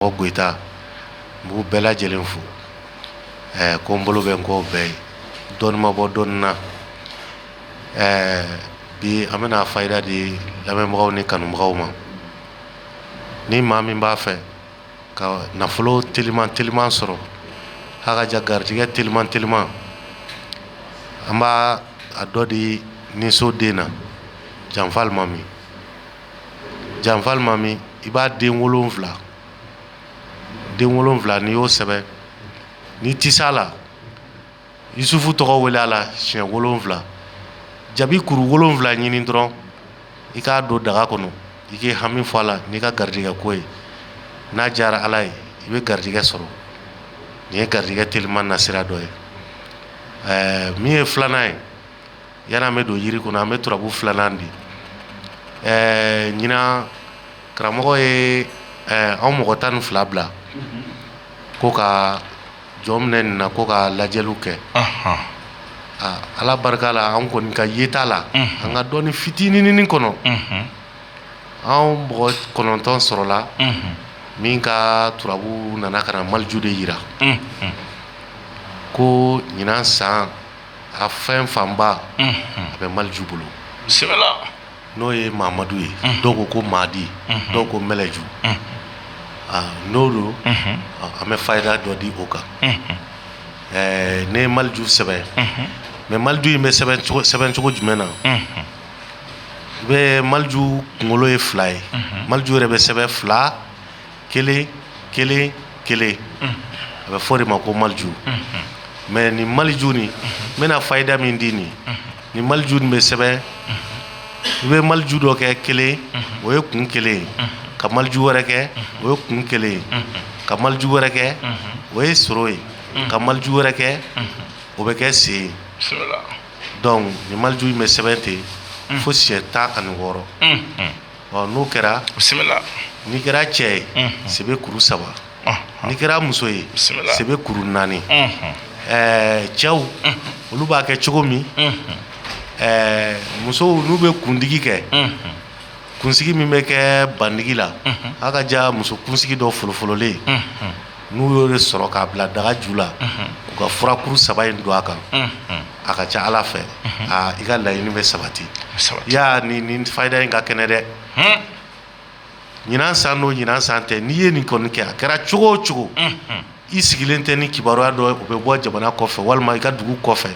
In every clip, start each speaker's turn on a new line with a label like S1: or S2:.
S1: mɔgɔ gta n b'u bɛɛ lajɛlen fo ɛɛ ko n bolo bɛ n kɔ bɛɛ ye dɔnniibɔ dɔn na ɛɛ bi an bɛna fayida di lamɛnbagaw ni kanubagaw ma ni maa min b'a fɛ ka nafolo teliman teliman sɔrɔ halaja garijɛgɛ teliman teliman an b'a a dɔ di nin so den na janfa alimami janfa alimami i b'a den wolonwula den wolonwula n'i y'o sɛbɛn n'i tilala yusufu tɔgɔ wele a la siɲɛ wolonwula jaabi kuru wolonwula ɲini dɔrɔn i k'a don daga kɔnɔ i k'i hami fɔ a la n'i ka garijɛgɛ ko ye n'a diyara ala ye i bɛ garijɛgɛ sɔrɔ nin ye garijɛgɛ teliman sira dɔ ye ɛɛ min ye filanan ye Yan an bɛ don jiri kɔnɔ an bɛ turabu filanan di ɛɛ ɲinan karamɔgɔ ye an mɔgɔ tan ni fila bila ko ka jɔn minɛ nin na ko ka lajɛliw kɛ aa ala barika la an kɔni ka yeta la an ka dɔnni fitininini kɔnɔ an mɔgɔ kɔnɔntɔn sɔrɔla min ka turabu nana ka na maliju de jira ko ɲinan san a fɛn fanba a bɛ maliju bolo n'o ye mamadu ye dɔw ko ko madi dɔw ko maliju n'o don an bɛ fayida dɔ di o kan ɛɛ ne ye maliju sɛbɛn mɛ maliju in bɛ sɛbɛn cogo jumɛn na i bɛ maliju kunkolo ye fila ye maliju yɛrɛ bɛ sɛbɛn fila kelen kelen kelen a bɛ fɔ o de ma ko maliju mɛ ni maliju ni n bɛna fayida min di nin ni maliju bɛ sɛbɛn i bɛ maliju dɔ kɛ kelen o ye kun kelen ye ka maliju wɛrɛ kɛ o ye kun kelen ye ka maliju wɛrɛ kɛ o ye soro ye ka maliju wɛrɛ kɛ o bɛ kɛ sen ye dɔnku ni maliju in bɛ sɛbɛn ten fo siɲɛ tan ani wɔɔrɔ ɔ n'o kɛra bisimila n'i kɛra cɛ ye unhun sebe kuru saba ɔnhɔn n'i kɛra muso ye bisimila sebe kuru naani unhun ɛɛ cɛw olu b'a kɛ cogo min unhun ɛɛ musow n'u bɛ kundigi kɛ unhun kunsigi min bɛ kɛ bandigi la a ka ja muso kunsigi dɔ folofololen unhun n'u y'o de sɔrɔ k'a bila daga ju la u ka furakuru saba in don a kan a ka ca ala fɛ aa i ka laɲini bɛ sabati yan nin fayida in ka kɛnɛ dɛ ɲinan san don ɲinan san tɛ n'i ye nin kɔni kɛ a kɛra cogo o cogo i sigilen tɛ ni kibaruya dɔ o bɛ bɔ jamana kɔfɛ walima i ka dugu kɔfɛ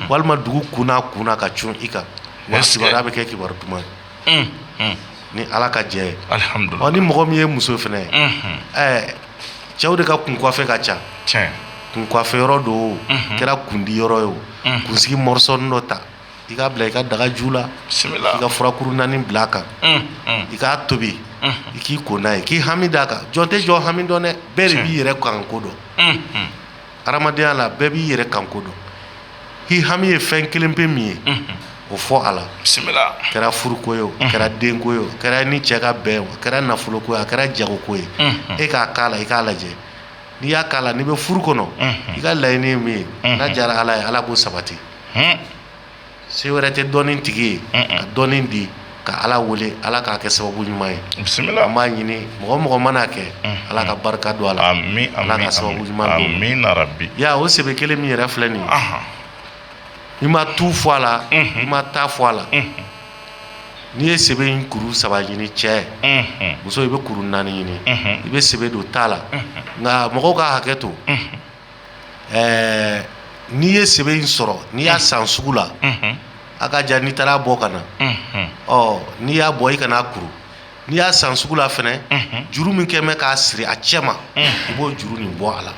S1: walima dugu kɔnɔ kɔnɔ ka cun i kan wa kibaruya bɛ kɛ kibaruya duman ye ni ala ka jɛ ye ni mɔgɔ min ye muso fana ye ɛɛ cɛw de ka kun kuwafɛ ka ca kun kuwafɛ yɔrɔ dɔ kɛra kundi yɔrɔ ye o kunsigi mɔrɔsɔnin dɔ ta i k'a bila i ka daga ju la i ka fura kuru naani bila a kan i k'a tobi i k'i ko n'a ye k'i hami d'a kan jɔn tɛ jɔn hami dɔn dɛ bɛɛ de b'i yɛrɛ kanko dɔn hadamadenya la bɛɛ b'i yɛrɛ kanko dɔn i hami ye fɛn kelenpe min ye o fɔ a la a kɛra furuko ye a kɛra denko ye a kɛra ni cɛ ka bɛn a kɛra nafoloko ye a kɛra jagoko ye i k'a k'a la i k'a lajɛ n'i y'a k'a la n'i bɛ furu kɔnɔ i ka laɲini min ye n'a diyara ala ye ala b'o sabati se wɛrɛ tɛ dɔnni tigi ye ka dɔnni di ka ala wele ala k'a kɛ sababu ɲuman ye an b'a ɲini mɔgɔ o mɔgɔ mana kɛ ala ka barika don a la ala ka sababu ɲuman don amiina rabi ya o sebe kelen min yɛrɛ filɛ nin i ma tu fɔ a la i ma taa fɔ a la n'i ye sebe in kuru saba ɲini cɛ muso i bɛ kuru naani ɲini i bɛ sebe dɔ t'a la nka mɔgɔw ka hakɛ to ɛɛ n'i ye sebe in sɔrɔ n'i y'a san sugu la a ka jan n'i taara bɔ ka na ɔ n'i y'a bɔ i kan'a kuru n'i y'a san sugu la fana juru min kɛlen bɛ k'a siri a cɛma i b'o juru nin bɔ a la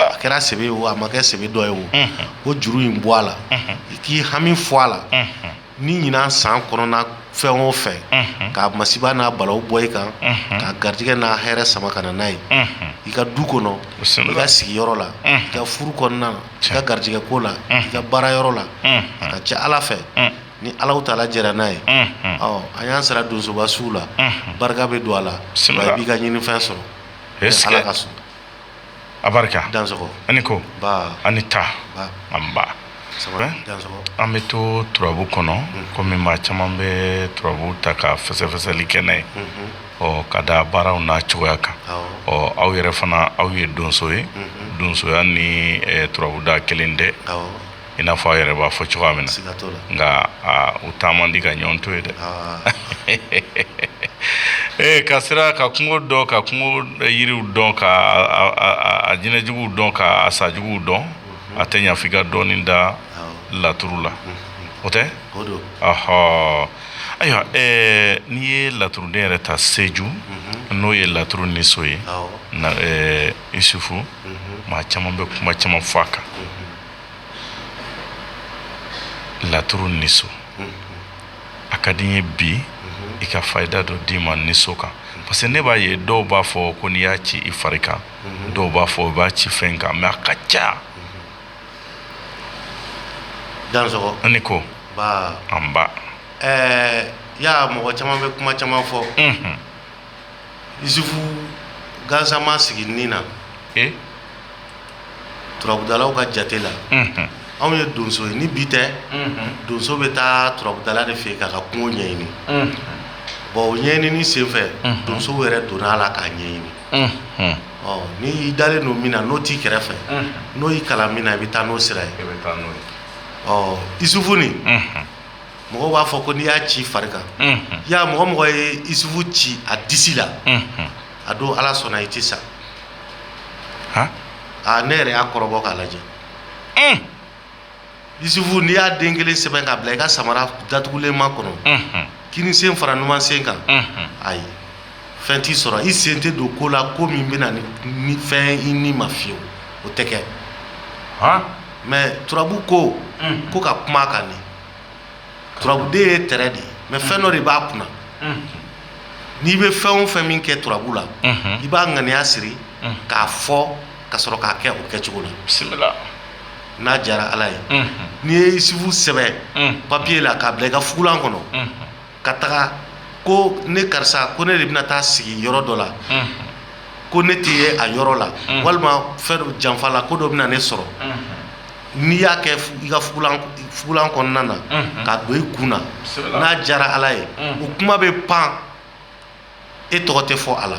S1: a kɛra sebe ye a ma kɛ sebe dɔ ye o k'o juru in bɔ a la i k'i hami fɔ a la ni ɲinan san kɔnɔna fɛn o fɛn k'a masiba n'a balaw bɔ i kan k'a garijɛgɛ n'a hɛrɛ sama ka n'a ye i ka du kɔnɔ i ka sigiyɔrɔ la i ka furu kɔnɔna i ka garijɛgɛ ko la i ka baara yɔrɔ la ka cɛ ala fɛ ni alahu taala jɛra n'a ye ɔ an y'an sara donsoba suw la barika bɛ don a la i b'i ka ɲinifɛn sɔrɔ ala ka so abarika a ni ko an ni taa anba an bɛ to turabu kɔnɔ kɔmi maa caman bɛ turabu ta ka fɛsɛfɛsɛli kɛ n'a ye ɔ ka da baaraw n'a cogoya kan ɔ aw yɛrɛ fana aw ye donso ye donsoya ni turabu da kelen tɛ i n'a fɔ a yɛrɛ b'a fɔ cogoya min na nka u taa man di ka ɲɔgɔn to ye dɛ ee ka sera ka kungo dɔn ka kungo yiriw dɔn ka a jinɛjuguw dɔn ka a sajuguw dɔn a tɛ ɲa f'i ka dɔɔnin da laturu la o tɛ ahɔ ayiwa n'i ye laturuden yɛrɛ ta seju n'o ye laturu niso ye isufu maa caman bɛ kuma caman fɔ a kan laturu nin so a ka di ye bi i ka fayida dɔ d'i ma nin so kan parce que ne b'a ye dɔw b'a fɔ ko n'i y'a ci i fari kan dɔw b'a fɔ i b'a ci fɛn kan mɛ a ka ca ne ko an b'a ye mɔgɔ caman bɛ kuma caman fɔ isufu gansama sigilen nin na turabudalaw ka jate la anw ye donso ye ni bi tɛ donso bɛ taa turabudala de fɛ yen k'a ka kungo ɲɛɲini bon o ɲɛɲini senfɛ donso yɛrɛ donna a la k'a ɲɛɲini ɔ n'i dalen don min na n'o t'i kɛrɛfɛ n'o y'i kalan min na i bɛ taa n'o sira ye ɔ isufu mɔgɔw b'a fɔ ko n'i y'a ci i fari kan y'a mɔgɔ o mɔgɔ ye isufu ci a disi la a don ala sɔnna i tɛ sa aa ne yɛrɛ y'a kɔrɔbɔ k'a lajɛ isufu n'i y'a den kelen sɛbɛn k'a bila i ka samara datugulenman kɔnɔ kinin sen fara numan sen kan ayi fɛn t'i sɔrɔ i sen tɛ don ko la ko min bɛna ni fɛn i ni ma fiyewu o tɛ kɛ mɛ turabu ko ko ka kuma a kan nin turabu den ye tɛrɛ de ye mais fɛn dɔ de b'a kunna n'i bɛ fɛn o fɛn min kɛ turabu la i b'a ŋaniya siri k'a fɔ ka sɔrɔ k'a kɛ o kɛcogo la bisimila n'a diyara ala ye n'i ye isufu sɛbɛn papiye la k'a bila i ka fugulan kɔnɔ ka taga ko ne karisa ko ne de bɛna taa sigi yɔrɔ dɔ la ko ne tɛ ye a yɔrɔ la walima fɛn dɔ janfa la ko dɔ bɛna ne sɔrɔ n'i y'a kɛ i ka fugulan kɔnɔna na k'a don i kun na n'a diyara ala ye o kuma bɛ pan e tɔgɔ tɛ fɔ a la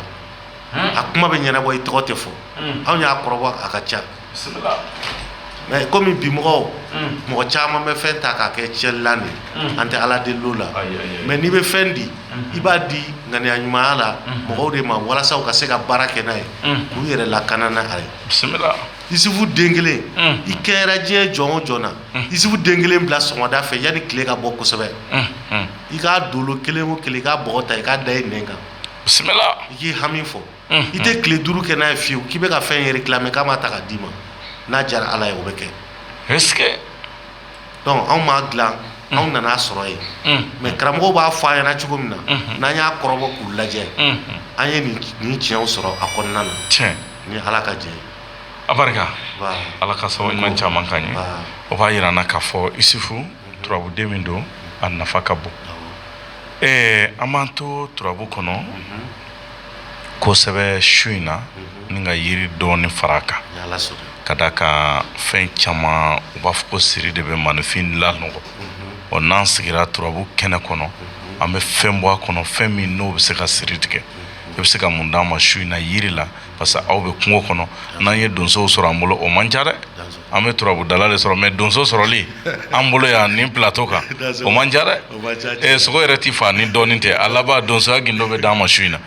S1: a kuma bɛ ɲɛnabɔ i tɔgɔ tɛ fɔ anw y'a kɔrɔbɔ a ka ca mɛ kɔmi bi mɔgɔw mɔgɔ caman bɛ fɛn ta k'a kɛ tiɲɛlilan de an tɛ ala deli o la mɛ n'i bɛ fɛn di i b'a di ŋaniya ɲumanya la mɔgɔw de ma walasa u ka se ka baara kɛ n'a ye k'u yɛrɛ lakana n'a ye isufu den kelen i kɛɲɛra diɲɛ jɔn o jɔn na isufu den kelen bila sɔgɔmada fɛ yanni tile ka bɔ kosɛbɛ i k'a dolo kelen o kelen i k'a bɔgɔ ta i k'a da i nɛn kan i k'i hami fɔ i tɛ tile duuru kɛ n'a ye fiye k'i bɛ ka fɛn yɛrɛ tila k'a ma ta k'a d'i ma n'a diyara ala ye o bɛ kɛ dɔnku anw m'a dilan anw nan'a sɔrɔ yen mɛ karamɔgɔw b'a fɔ an ye cogo min na n'an y'a kɔrɔbɔ k'u lajɛ an ye nin tiɲɛ sɔrɔ a kɔnɔna na ni ala ka jɛ ala ka sɔrɔ caman ka ɲɛ o b'a jira n' ka fɔ isufu turabuden min don a nafa ka bon ɛɛ an b'an to turabu kɔnɔ kosɛbɛ su in na ni ka yiri dɔɔnin fara a kan ka d'a kan fɛn caman u b'a fɔ ko siri de bɛ maaninfin lanɔgɔ ɔ n'an sigira turabu kɛnɛ kɔnɔ an bɛ fɛn bɔ a kɔnɔ fɛn min n'o bɛ se ka siri tigɛ i bɛ se ka mun d'an ma su in na yiri la parce que aw bɛ kungo kɔnɔ n'an ye donso sɔrɔ an bolo o man ca dɛ an bɛ turabudala de sɔrɔ mɛ donso sɔrɔli an bolo yan nin plateau kan o man ca dɛ sogo yɛrɛ tɛ faa ni dɔɔnin tɛ a laban donsoya gundo bɛ d'an ma su in na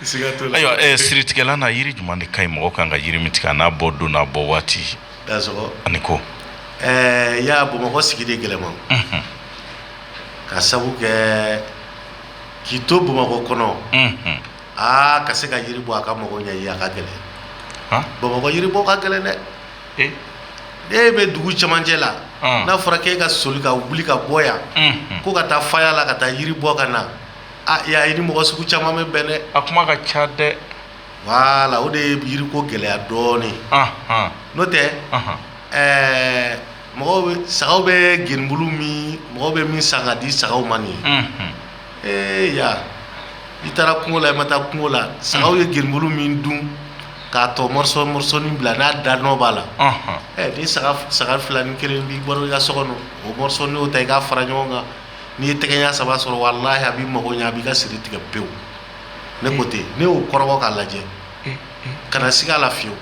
S1: ayiwa siritigɛlan na yiri jumɛn de ka ɲi mɔgɔ kan ka yiri min tigɛ n'a bɔ don n'a bɔ waati ani ko ɛɛ y'a bamakɔ sigi de gɛlɛma ka sabu kɛ k'i to bamakɔ kɔnɔ aa ka se ka yiri bɔ a ka mɔgɔ ɲɛ ye a ka gɛlɛn Han? bamakɔ yiri bɔ ka gɛlɛn dɛ Eh, e bɛ dugu cɛmancɛ la Ɔn. n'a fɔra k'e ka soli ka wuli ka bɔ yan mhm. ko ka taa faya la ka taa yiri bɔ ka na a y'a ye i ni mɔgɔ sugu caman bɛ bɛn dɛ a kuma ka ca dɛ wala o de ye yiriko gɛlɛya dɔɔnin Ahan, n'o tɛ ahan. ɛɛ mɔgɔw bɛ sagaw bɛ genubulu min mɔgɔw bɛ min san ka di sagaw ma nin ye Mhm. ee ya i taara kungo la i ma taa kungo la sagaw ye genubulu min dun k'a tɔ mɔrɔsɔ mɔrɔsɔni bila n'a da nɔ b'a la ɛ ni saga saga fila ni kelen b'i bolo i ka so kɔnɔ o mɔrɔsɔni o ta i k'a fara ɲɔgɔn kan n'i ye tɛgɛɲa saba sɔrɔ walahi a b'i mago ɲɛ a b'i ka siri tigɛ pewu ne ko ten ne y'o kɔrɔbɔ k'a lajɛ kana siga a la fiyewu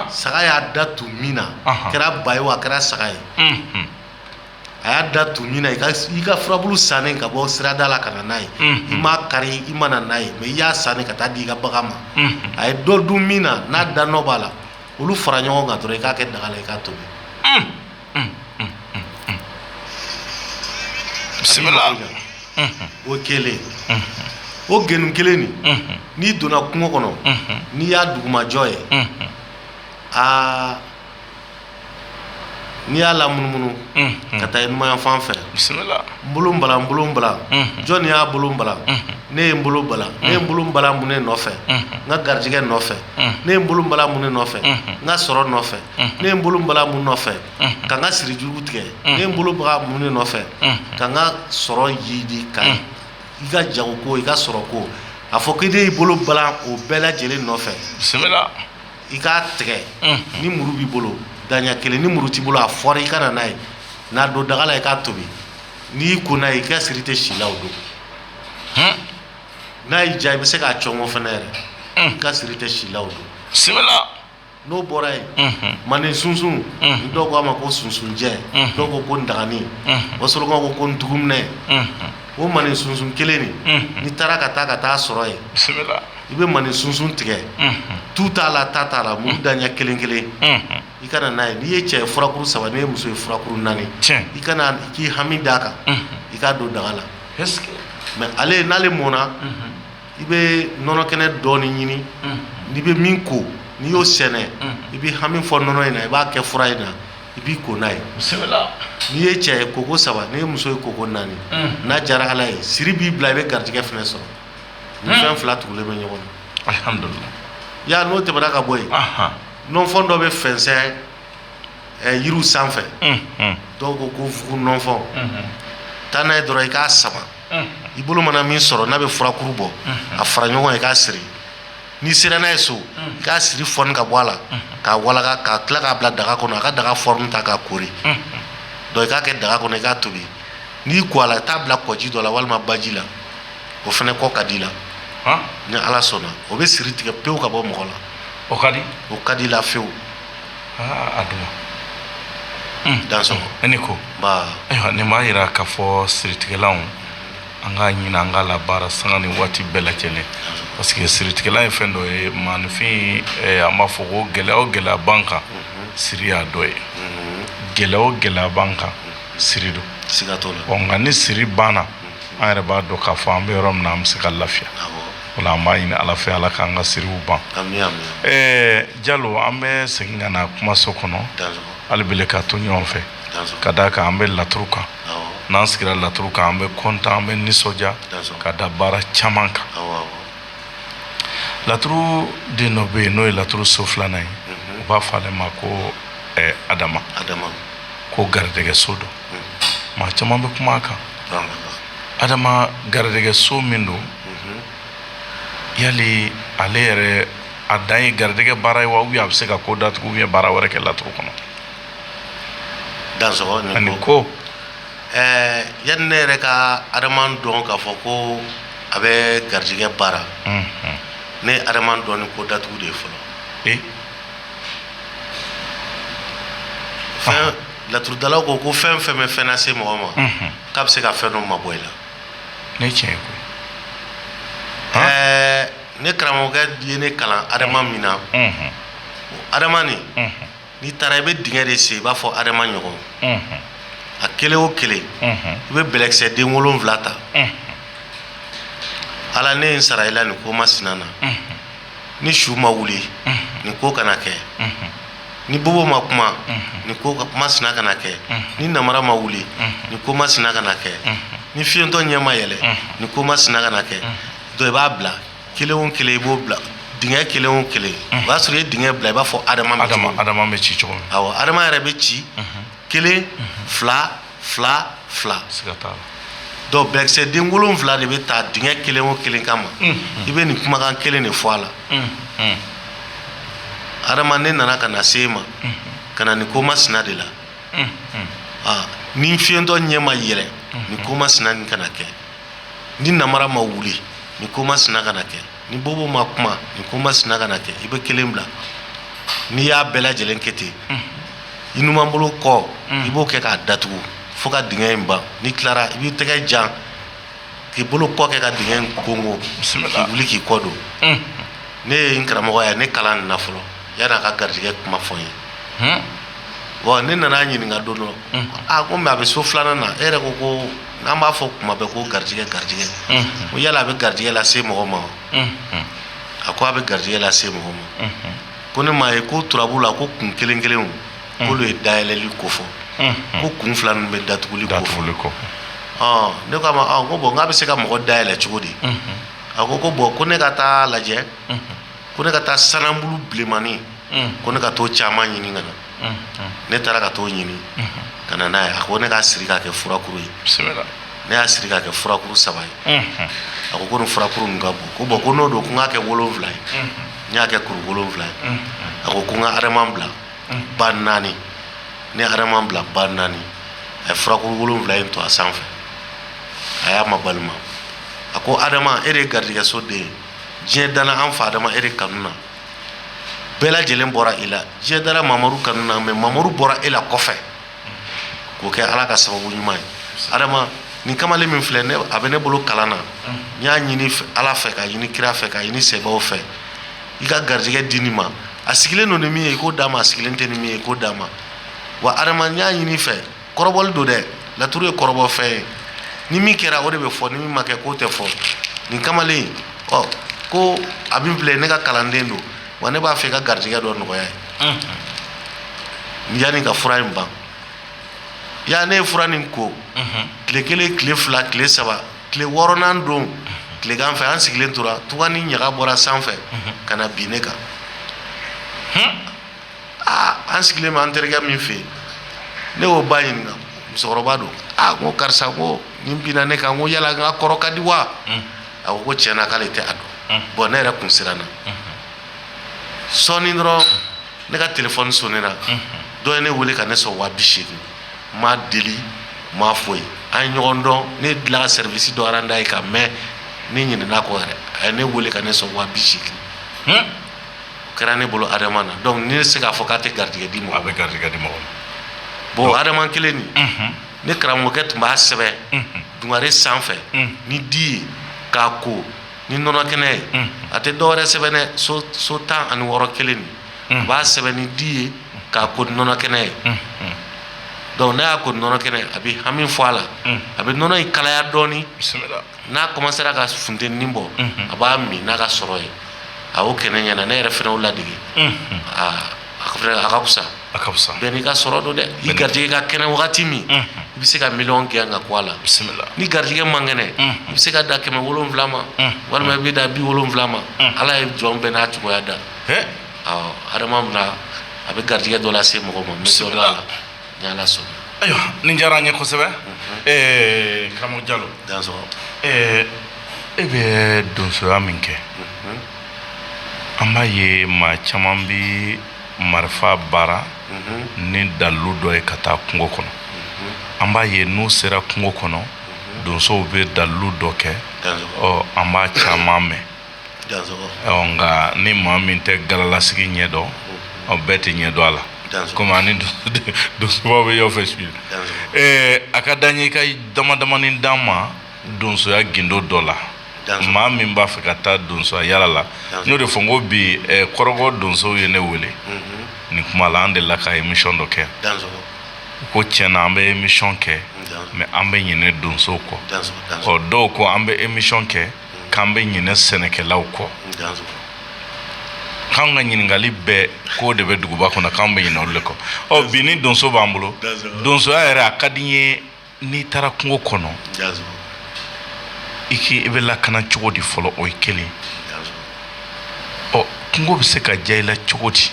S1: saga y'a da tun min na a kɛra ba ye wa a kɛra saga ye a y'a da tun min na i ka furabulu san ka bɔ sirada la ka na n'a ye i m'a kari i ma na n'a ye mɛ i y'a san ka taa di i ka bagan ma a ye dɔ dun min na n'a da nɔ b'a la olu fara ɲɔgɔn kan dɔrɔn i k'a kɛ daga la i k'a tobi o kelen o genu kelen nin n'i donna kungo kɔnɔ n'i y'a dugumajɔ ye aa n'i y'a lamunumunu ka taa i numanyanfan fɛ n bolo balan n bolo balan jɔn de y'a bolo balan ne ye n bolo balan ne ye n bolo balan mun ne nɔfɛ n ka garijɛgɛ nɔfɛ ne ye n bolo balan mun ne nɔfɛ n ka sɔrɔ nɔfɛ ne ye n bolo balan mun nɔfɛ ka n ka siri jugu tigɛ ne ye n bolo balan mun ne nɔfɛ ka n ka sɔrɔ jidi ka i ka jago ko i ka sɔrɔ ko a fɔ ko i de y'i bolo balan o bɛɛ lajɛlen nɔfɛ i k'a tigɛ ni muru b'i bolo daɲɛ kelen ni muru t'i bolo a fɔrɔn i ka na n'a ye n'a don daga la i k'a tobi n'i y'i ko n'a ye i ka siri tɛ si i la o don n'a y'i diya i bɛ se k'a cɔngɔ fana yɛrɛ i ka siri tɛ si i la o don bisimila n'o bɔra yen manden sunsun dɔw k'a ma ko sunsunjɛ dɔw ko ko ndaganin wasolonkaw ko ko ntuguminɛ O manden sunsun kelen de n'i taara ka taa ka t'a sɔrɔ yen i bɛ manden sunsun tigɛ tu t'a la ta t'a la muru daɲɛ kelen kelen i ka na n'a ye n'i ye cɛ furakuru saba n'i ye muso ye furakuru naani i ka na k'i hami d'a kan i k'a don daga la mɛ ale n'ale mɔna i bɛ nɔnɔ kɛnɛ dɔɔnin ɲini n'i bɛ min ko n'i y'o sɛnɛ i b'i hami fɔ nɔnɔ in na i b'a kɛ fura in na i b'i ko n'a ye n'i ye cɛ ye koko saba n'i ye muso ye koko naani n'a diyara ala ye siri b'i bila i bɛ garijɛgɛ fana sɔrɔ nin fɛn fila tugulen bɛ ɲɔgɔn na yan n'o tɛmɛna ka bɔ yen nɔnfɔn dɔ bɛ fɛnsɛn yiri sanfɛ dɔw ko ko fuga nɔnfɔn taa n'a ye dɔrɔn i k'a saba i bolo mana min sɔrɔ n'a bɛ furakuru bɔ a fara ɲɔgɔn kan i k'a siri n'i sera n'a ye so i k'a siri foni ka bɔ a la k'a waga k'a tila k'a bila daga kɔnɔ a ka daga forme ta k'a koori donc i k'a kɛ daga kɔnɔ i k'a tobi n'i ko a la t'a bila kɔji dɔ la walima baji la o fana ko ka di i la ni ala sɔnna o bɛ siri tigɛ pewu ka bɔ mɔgɔ la o ka o ka di i la fɛwu dan ko ne m'a jira k'a fɔ siritigɛlan An k'a ɲini an k'a labaara sanga ni waati bɛɛ lajɛlen parce que siritigɛlan ye fɛn dɔ ye mais enfin an b'a fɔ ko gɛlɛya o gɛlɛya b'an kan siri y'a dɔ ye gɛlɛya o gɛlɛya b'an kan siri don nka ni siri banna an yɛrɛ b'a dɔn k'a fɔ an bɛ yɔrɔ min an bɛ se ka lafiya an b'a ɲini ala fɛ ala k'an ka siriw ban jalo an bɛ segin ka na kumaso kɔnɔ hali belen ka to ɲɔgɔn fɛ ka d'a kan an bɛ laturu kan n'an sigira laturu kan an bɛ kɔntan an bɛ nisɔndiya ka da baara caman kan laturu den dɔ bɛ yen n'o ye laturu so filanan ye u b'a fɔ ale ma ko adama ko garijɛgɛ so don maa caman bɛ kuma a kan adama garijɛgɛ so min don yali ale yɛrɛ a dan ye garijɛgɛ baara ye wa a bɛ se ka ko datugu ye baara wɛrɛ kɛ laturu kɔnɔ Dan ko ɛɛ yan ne yɛrɛ ka adama dɔn k'a fɔ ko a bɛ garijɛgɛ baara ne adama dɔn ko datugu de ye fɔlɔ fɛn datugu la ko ko fɛn o fɛn bɛ fɛn lase mɔgɔ ma k'a bɛ se ka fɛn dɔ mabɔ i la ne tiɲɛ ɛɛ ne karamɔgɔkɛ de ye ne kalan adama min na adama n'i taara i bɛ dingɛ de sen i b'a fɔ adama ɲɔgɔn a kelen o kelen i bɛ bɛlɛkisɛ den wolonfila ta ala ne ye n sara i la nin ko masina na ni su ma wuli nin ko kana kɛ ni bobo ma kuma nin ko masina kana kɛ ni namara ma wuli nin ko masina kana kɛ ni fiyentɔ ɲɛ ma yɛlɛ nin ko masina kana kɛ dɔ i b'a bila kelen o kelen i b'o bila dingɛ kelen o kelen o b'a sɔrɔ i ye dingɛ bila i b'a fɔ adama bɛ ci cogo adama yɛrɛ bɛ ci kelen fila fila fila don bɛlɛkisɛ den wolonfila de bɛ taa dingɛ kelen o kelen kama i bɛ nin kumakan kelen de fɔ a la adama ne nana ka na se e ma ka na nin ko masina de la ni fiyentɔ ɲɛ ma yɛlɛ nin ko masina nin kana kɛ ni namara ma wuli nin ko masina kana kɛ ni bobo ma kuma nin ko masina kana kɛ i bɛ kelen bila n'i y'a bɛɛ lajɛlen kɛ ten i numan bolo kɔ i b'o kɛ k'a datugu fo ka dingɛ in ban n'i tilara i b'i tɛgɛ jan k'i bolo kɔ kɛ ka dingɛ in konkon k'i wuli k'i kɔ don ne ye n karamɔgɔ ye ne kalan nin na fɔlɔ yanni a ka garijɛgɛ kuma fɔ n ye bɔn ne nan'a ɲininka don dɔ a ko mɛ a bɛ so filanan na e yɛrɛ ko ko N'an b'a fɔ tuma bɛɛ ko garijɛgɛ garijɛgɛ ko yala a bɛ garijɛgɛ lase mɔgɔ ma a ko a bɛ garijɛgɛ lase mɔgɔ ma ko ne m'a ye ko turabu la ko kun kelen kelen olu ye dayɛlɛli kofɔ ko kun fila ninnu bɛ datuguli de kɔ ne k'a ma ko bɔn nka a bɛ se ka mɔgɔ dayɛlɛ cogo di a ko ko bɔn ko ne ka taa lajɛ ko ne ka taa sanabulu bilenmani ko ne ka t'o caman ɲini ka na ne taara ka t'o ɲini ka na n'a ye a ko ne k'a siri k'a kɛ furakuru ye ne y'a siri k'a kɛ furakuru saba ye a ko ko ni furakuru min ka bon ko bɔn ko n'o don ko n k'a kɛ wolonfila ye n y'a kɛ kuru wolonfila ye a ko ko n ka adama bila ba naani ne y'adama bila ba naani a ye furakuru wolonfila in to a sanfɛ a y'a ma balima a ko adama e de ye garijɛgɛso den ye diɲɛ dala an fa adama e de kanu na bɛɛ lajɛlen bɔra i la diɲɛ dala mamadu kanu na mɛ mamadu bɔra e la kɔfɛ k'o kɛ ala ka sababu ɲuman ye adama nin kamalen min filɛ a bɛ ne bolo kalan na n y'a ɲini ala fɛ ka ɲini kira fɛ ka ɲini sɛbɛw fɛ i ka garijɛgɛ di nin ma a sigilen don ni min ye i k'o d'a ma a sigilen tɛ ni min ye i k'o d'a ma wa adama n y'a ɲini fɛ kɔrɔbɔli don dɛ laturu ye kɔrɔbɔfɛn ye ni min kɛra o de bɛ fɔ ni min ma kɛ k'o tɛ fɔ nin kamalen ɔ ko min filɛ ne ka kalanden don wa ne b'a fɛ ka garijɛgɛ dɔ nɔgɔya ye yanni ka fura in ban ya ne ye fura nin ko tile kelen tile fila tile saba tile wɔɔrɔnan don tilegan fɛ an sigilen tora tugannin ɲaga bɔra sanfɛ ka na bin ne kan aa an sigilen bɛ an terikɛ min fɛ yen ne y'o ba ɲininka musokɔrɔba don aa n ko karisa ko nin binna ne kan ko yala n ka kɔrɔ ka di wa a ko ko tiɲɛna k'ale tɛ a dɔn bɔn ne yɛrɛ kun siranna sɔɔni dɔrɔn ne ka telefɔni sonnera dɔ ye ne wele ka ne sɔn waa bi seegin n m'a deli n m'a foyi an ye ɲɔgɔn dɔn ne delila ka sɛrivisi dɔ rand'a ye ka mɛn ne ɲinɛna a kɔ yɛrɛ a ye ne wele ka ne sɔn waa bi seegin kɛra ne bolo adama na dɔnku ne tɛ se k'a fɔ k'a tɛ garijɛgɛ di mɔgɔ ma a bɛ garijɛgɛ di mɔgɔ ma bon adama kelen nin ne karamɔgɔkɛ tun b'a sɛbɛn dugare sanfɛ ni di ye k'a ko ni nɔnɔ kɛnɛ ye a tɛ dɔ wɛrɛ sɛbɛn ni so tan ani wɔɔrɔ kelen nin a b'a sɛbɛn ni di ye k'a ko nɔnɔ kɛnɛ ye dɔnku n'a y'a ko ni nɔnɔ kɛnɛ ye a bɛ hami fɔ a la a bɛ nɔnɔ in kalaya dɔɔnin n'a kɔmansera ka funteni bɔ a b'a min n'a ka sɔrɔ ye a o kɛnɛ ɲɛna ne yɛrɛ fana y'o ladege a ka fisa bɛɛ n'i ka sɔrɔ don dɛ i garijɛgɛ ka kɛnɛ wagati min i bɛ se ka miliyɔn kɛ ka ko a la bisimila ni garijɛgɛ man kɛnɛ i bɛ se ka da kɛmɛ wolonfila ma walima i bɛ da bi wolonfila ma ala ye jɔn bɛɛ n'a cogoya da adama min a bɛ garijɛgɛ dɔ lase mɔgɔ ma misi la ayiwa nin diyara an ye kosɛbɛ karamɔgɔ jalo e bɛ donsoya min kɛ an b'a ye maa caman bɛ marifa baara ni dalilu dɔ ye ka taa kungo kɔnɔ an b'a ye n'u sera kungo kɔnɔ donsow bɛ dalilu dɔ kɛ an b'a caman mɛn nka ni maa min tɛ galalasigi ɲɛ dɔn o bɛɛ tɛ ɲɛ dɔn a la kɔmi ani donsoba bɛ aw fɛ su a ka da ɲɛ i ka damadamanin d'an ma donsoya gundo dɔ la maa min b'a fɛ ka taa donsoya yaala la n y'o de fɔ n ko bi kɔrɔkɔ donsow ye ne wele nin kuma la an de la ka emisiyɔn dɔ kɛ ko tiɲɛna an bɛ emisiyɔn kɛ mɛ an bɛ ɲinɛ donsow kɔ ɔ dɔw ko an bɛ emisiyɔn kɛ k'an bɛ ɲinɛ sɛnɛkɛlaw kɔ k'an ka ɲininkali bɛɛ k'o de bɛ duguba kɔnɔ k'an bɛ ɲinɛ olu de kɔ ɔ bi ni donso b'an bolo donsoya yɛrɛ a ka di n ye n'i taara kungo kɔnɔ i k'i i bɛ lakana cogo di fɔlɔ o ye kelen ɔ kungo bɛ se ka diya i la cogo di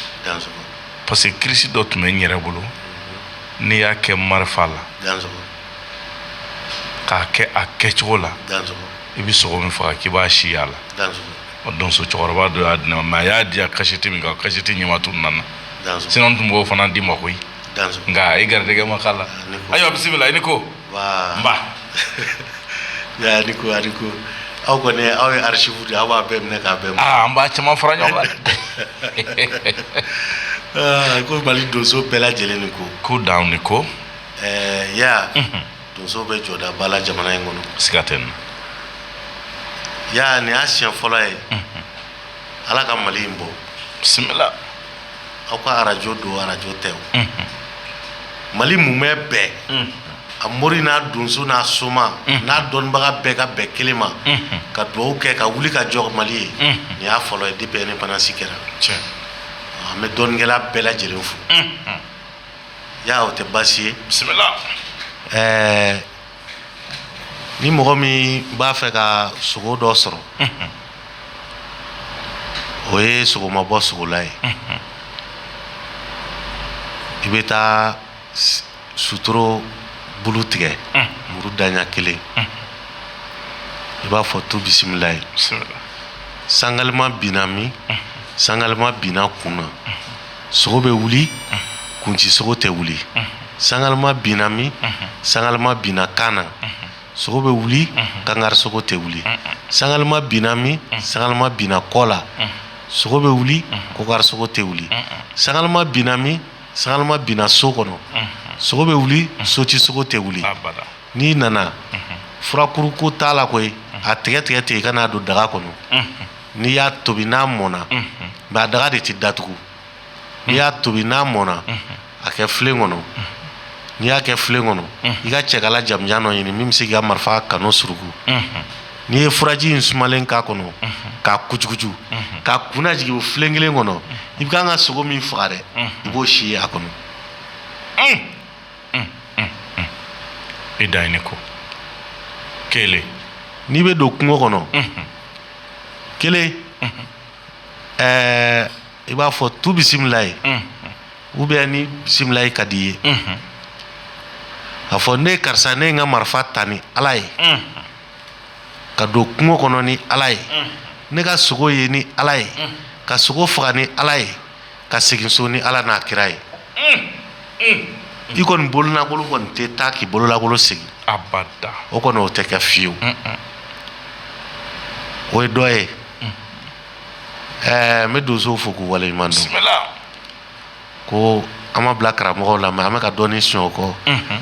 S1: parce que kirisi dɔ tun bɛ n yɛrɛ bolo n'i y'a kɛ marifa la k'a kɛ a kɛcogo la i bɛ sogo min faga k'i b'a si y'a la o don cɛkɔrɔba dɔ y'a di ne ma a y'a di kasɛti min kan a kasɛti ɲama tununna sinon n tun b'o fana d'i ma koyi nka i garijɛgɛ ma k'a la ayiwa bisimila i ni ko ko aw kɔni aw ye archive de aw b'a bɛɛ minɛ k'a bɛɛ an b'a caman fara ɲɔgɔn kan mali donso bɛɛ lajɛlen nin ko ko dan ni ko ɛɛ ya donso bɛ jɔda ba la jamana in kɔnɔ siga t'a la ya nin y'a siɲɛ fɔlɔ ye ala ka mali in bɔ bisimila aw ka arajo don arajo tɛ o mali mumɛ bɛɛ a mori n'a donso n'a soma n'a dɔnnibaga bɛɛ ka bɛn kelen ma ka dugawu kɛ ka wuli ka jɔ mali ye nin y'a fɔlɔ ye depuis indépendance kɛra an bɛ dɔnnikɛla bɛɛ lajɛlen fo ya o tɛ baasi ye bisimila ɛɛ ni mɔgɔ min b'a fɛ ka sogo dɔ sɔrɔ o ye sogoma bɔ sogola ye i bɛ taa sutoro bulu tigɛ muru daɲa kelen i b'a fɔ tu bisimila ye sangalima binna min sangalima binna kun na sogo bɛ wuli kunci sogo tɛ wuli sangalama binna min sangalama binna kan na sogo bɛ wuli kankari sogo tɛ wuli sangalama binna min sangalama binna kɔ la sogo bɛ wuli kɔkari sogo tɛ wuli sangalama binna min sangalama binna so kɔnɔ sogo bɛ wuli soti sogo tɛ wuli n'i nana furakuru ko t'a la koyi a tigɛtigɛ ten i ka n'a don daga kɔnɔ n'i y'a tobi n'a mɔnna mais a daga de tɛ datugu n'i y'a tobi n'a mɔnna a kɛ filen kɔnɔ n'i y'a kɛ filen kɔnɔ i ka cɛkala jamanjan dɔ ɲini min bɛ se ka marifa canon suruku n'i ye furaji in sumalen k'a kɔnɔ k'a kucukucu k'a kun jigin o filen kelen kɔnɔ i bɛ kan ka sogo min faga dɛ i b'o si ye a kɔnɔ e da ye ne ko kelen n'i bɛ don kungo kɔnɔ kelen ɛɛ i b'a fɔ tu bisimila ye u bɛɛ ni bisimila ye ka di ye a fɔ ne karisa ne ye n ka marifa ta ni ala ye ka don kungo kɔnɔ ni ala ye ne ka sogo ye ni ala ye ka sogo faga ni ala ye ka segin so ni ala n'a kira ye i kɔni bololankolon kɔni tɛ taa k'i bololankolon sigi abada o kɔni o tɛ kɛ fiyewu o ye dɔ ye ɛɛ n bɛ donsow fo k'u waleɲuman dɔn ko an ma bila karamɔgɔw la mɛ an bɛ ka dɔɔnin sɔrɔ u kɔ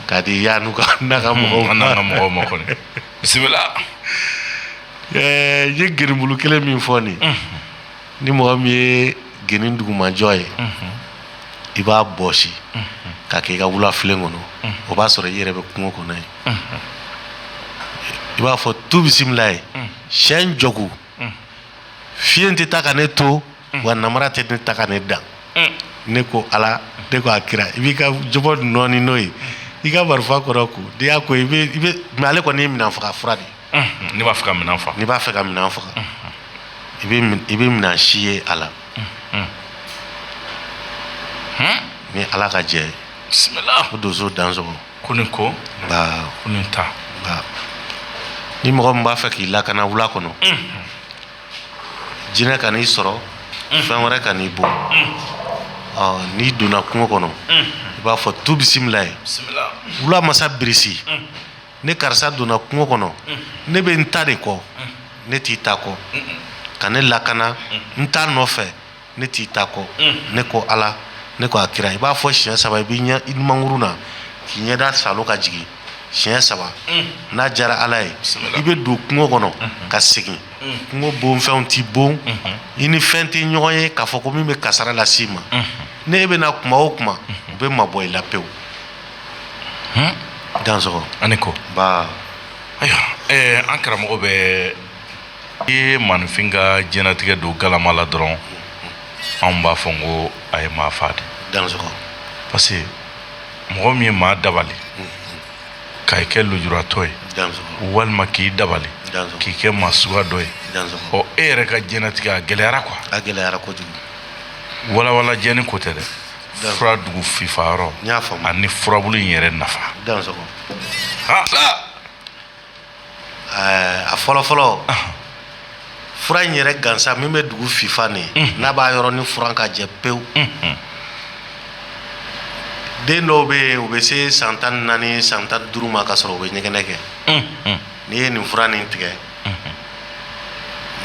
S1: k'a di y'a n'u ka n'a ka mɔgɔw an n'an ka mɔgɔw ma kɔni bisimila ɛɛ n ye gerimbulu kelen min fɔ nin ni mɔgɔ min ye gɛni dugumajɔ ye i b'a bɔsi k'a kɛ i ka wulafilen kɔnɔ o b'a sɔrɔ i yɛrɛ bɛ kungo kɔnɔ yen i b'a fɔ tu bisimila ye si jɔku fi tɛ taa ka ne to wa nara tɛ ne ta ka ne dan ne ko ala ne ko a kira i b'i ka jɔnɔni n'o ye i ka marifa kɔrɔ ko de y'a ko i ale kɔni' minɛn faga fura de ye ne b'a fɛ ka minɛn faga n'i b'a fɛ ka minɛn faga i bɛ i bɛ minɛn si ye a la ni ala ka jɛ bisimila ko donso dansoko nin ko nka ko nin ta nka ni mɔgɔ min b'a fɛ k'i lakana wula kɔnɔ jinɛ kan'i sɔrɔ fɛn wɛrɛ kan'i bon n'i donna kungo kɔnɔ i b'a fɔ tu bisimila ye wula masa birisi ne karisa donna kungo kɔnɔ ne bɛ n ta de kɔ ne t'i ta kɔ ka ne lakana n ta nɔfɛ ne t'i ta kɔ ne ko ala ne ko a kira i b'a fɔ siɲɛ saba i bɛ ɲɛ i numankuru na k'i ɲɛda saalo ka jigin siɲɛ saba n'a jara ala ye i bɛ don kungo kɔnɔ ka segin kungo bonfɛnw t'i bon i ni fɛn tɛ ɲɔgɔn ye k'a fɔ ko min bɛ kasara lase i ma ni e bɛ na kuma o kuma u bɛ mabɔ i la pewu dan ani ko ayiwa an karamɔgɔ bɛ i ye maaninfin ka jɛnatigɛ don galama la dɔrɔn anw b'a fɔ n ko a ye maa faa de parce que mɔgɔ min ye maa dabali ka i kɛ lujuratɔ ye walima k'i dabali k'i kɛ maa sugu dɔ ye ɔ e yɛrɛ ka jɛnatigɛ a gɛlɛyara ko a gɛlɛyara kojugu wawalan jɛ ko tɛ dɛ fura dugu fifa yɔrɔ n y'a faamu ani furabulu in yɛrɛ nafa dansoko a fɔlɔ fɔlɔ fura in yɛrɛ gansa min bɛ dugu fifa nin mhm. n'a b'a yɔrɔ nin furan k'a jɛ pewu mhm. den dɔw bɛ yen u bɛ se san tan ni naani san tan duuru ma ka sɔrɔ u bɛ ɲɛgɛnɛ kɛ mhm. n'i ye nin fura nin tigɛ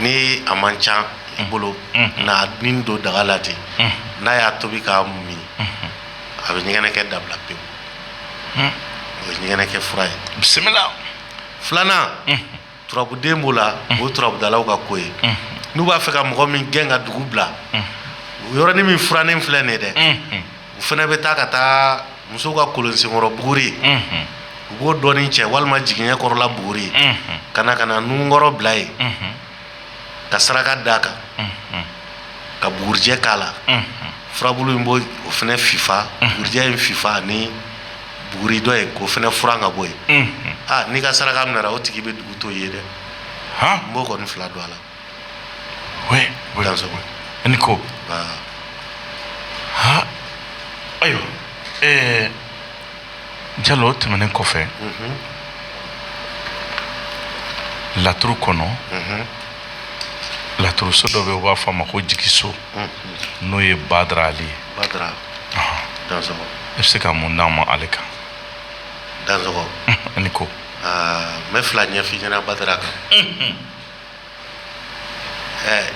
S1: ni a man ca i bolo nin don daga la ten n'a y'a tobi k'a min a bɛ ɲɛgɛnɛkɛ dabila pewu o ye ɲɛgɛnɛkɛ fura ye bisimila filanan turabuden b'o la o turabudalaw ka ko ye n'u b'a fɛ ka mɔgɔ min gɛn ka dugu bila o yɔrɔnin min furanin filɛ nin ye dɛ u fana bɛ taa ka taa musow ka kolon senkɔrɔ buguri u b'o dɔɔnin cɛ walima jiginɛ kɔrɔla buguri ka na ka na nunkɔrɔ bila yen ka saraka da a kan ka bugurijɛ k'a la furabulu in bɔ o fana fifa bugurijɛ in fifa ni buguri dɔ ye k'o fana furan ka bɔ yen aaa n'i ka saraka minɛna o tigi bɛ dugu to yen dɛ n b'o kɔni fila dɔn a la ni ko a ayiwa ɛɛ jalo o tɛmɛnen kɔfɛ laturu kɔnɔ laturuso dɔ bɛ u b'a fɔ a ma ko jigiso n'o ye badara ali ye i bɛ se ka mun d'an ma ale kan ni ko n bɛ fila ɲɛfin ɲɛna badara kan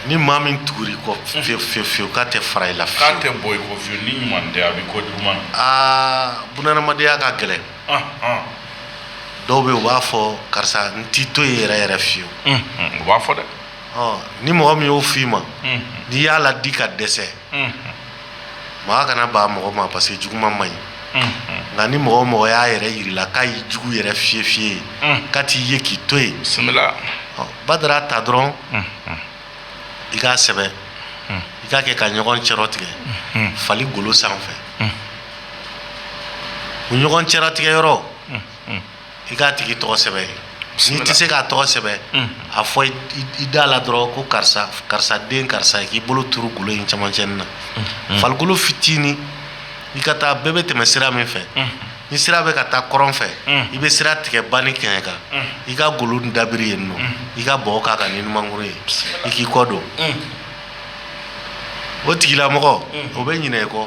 S1: ni maa min tugura i kɔ fiye fiye fiye k'a tɛ fara i la fiye k'a tɛ bɔ i kɔ fiye ni ɲuman tɛ a bɛ ko juguman na aa bunadamadenya ka gɛlɛn dɔw bɛ yen u b'a fɔ karisa n t'i to yen yɛrɛ yɛrɛ fiyewu u b'a fɔ dɛ ni mɔgɔ min y'o f'i ma n'i y'a ladi ka dɛsɛ maa kana baga mɔgɔ ma parce que juguman man ɲi nka ni mɔgɔ o mɔgɔ y'a yɛrɛ jir'i la k'a y'i jugu yɛrɛ fiye fiye ye k'a t'i ye k'i to yen badara ta dɔrɔn i k'a sɛbɛn i k'a kɛ ka ɲɔgɔn cɛrɔ tigɛ fali golo sanfɛ o ɲɔgɔn cɛrɔ tigɛ yɔrɔ i k'a tigi tɔgɔ sɛbɛn n'i tɛ se k'a tɔgɔ sɛbɛn a fɔ i da la dɔrɔn ko karisa karisa den karisa k'i bolo turu golo in camancɛin na fali golo fitinin i ka taa bɛɛ bɛ tɛmɛ sira min fɛ ni sira bɛ ka taa kɔrɔn fɛ i bɛ sira tigɛ ba ni kɛɲɛka i ka golo dabiri yen nɔ i ka bɔgɔ k'a kan ni numankuru ye i k'i kɔ don o tigilamɔgɔ o bɛ ɲina i kɔ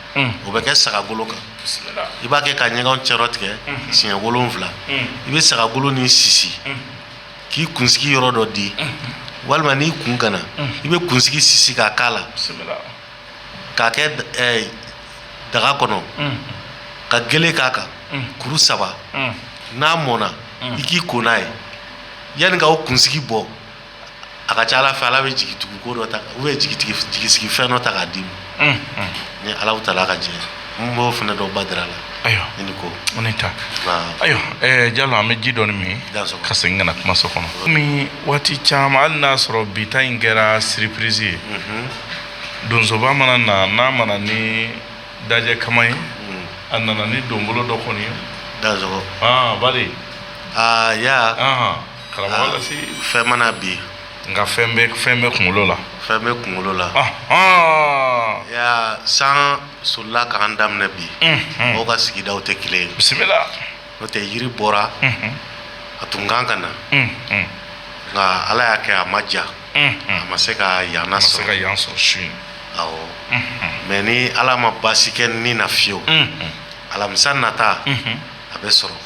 S1: o bɛ kɛ saga golo kan i b'a kɛ ka ɲɔgɔn cɛrɔ tigɛ siɲɛ wolonfila i bɛ saga golo nin sisi k'i kunsigi yɔrɔ dɔ di walima n'i kun kana i bɛ kunsigi sisi k'a kala k'a kɛ daga kɔnɔ ka gele k'a kan kuru saba n'a mɔnna i k'i ko n'a ye yanni i k'o kunsigi bɔ a ka ca la a fɛ ala bɛ jigi tugu ko dɔ ta u bɛ jigi jigi sigi fɛn dɔ ta k'a d'i ma ni ala ta ala ka jɛ n b'o fana dɔw ba dira a la ayiwa ni ko ne ta ayiwa ja an bɛ ji dɔɔni min ka segin ka na kuma so kɔnɔ kɔmi waati caman hali n'a sɔrɔ bi ta in kɛra siriprisi ye donsoba mana na n'a ma na ni dajɛ kaman ye a nana ni donbolo dɔ kɔni ye ba ya karamɔgɔ lasi fɛn ma na bi nka fɛn bɛ fɛn bɛ kunkolo la fɛn bɛ kunkolo la ya san sola k'an daminɛ bi mɔgɔw ka sigidaw tɛ kelen bisimila n'o tɛ yiri bɔra a tun kan ka na nka ala y'a kɛ a ma diya a ma se ka yan sɔrɔ ka yan sɔrɔ su mɛ ni ala ma basi kɛ ni na fiyewu alamisa nata a bɛ sɔrɔ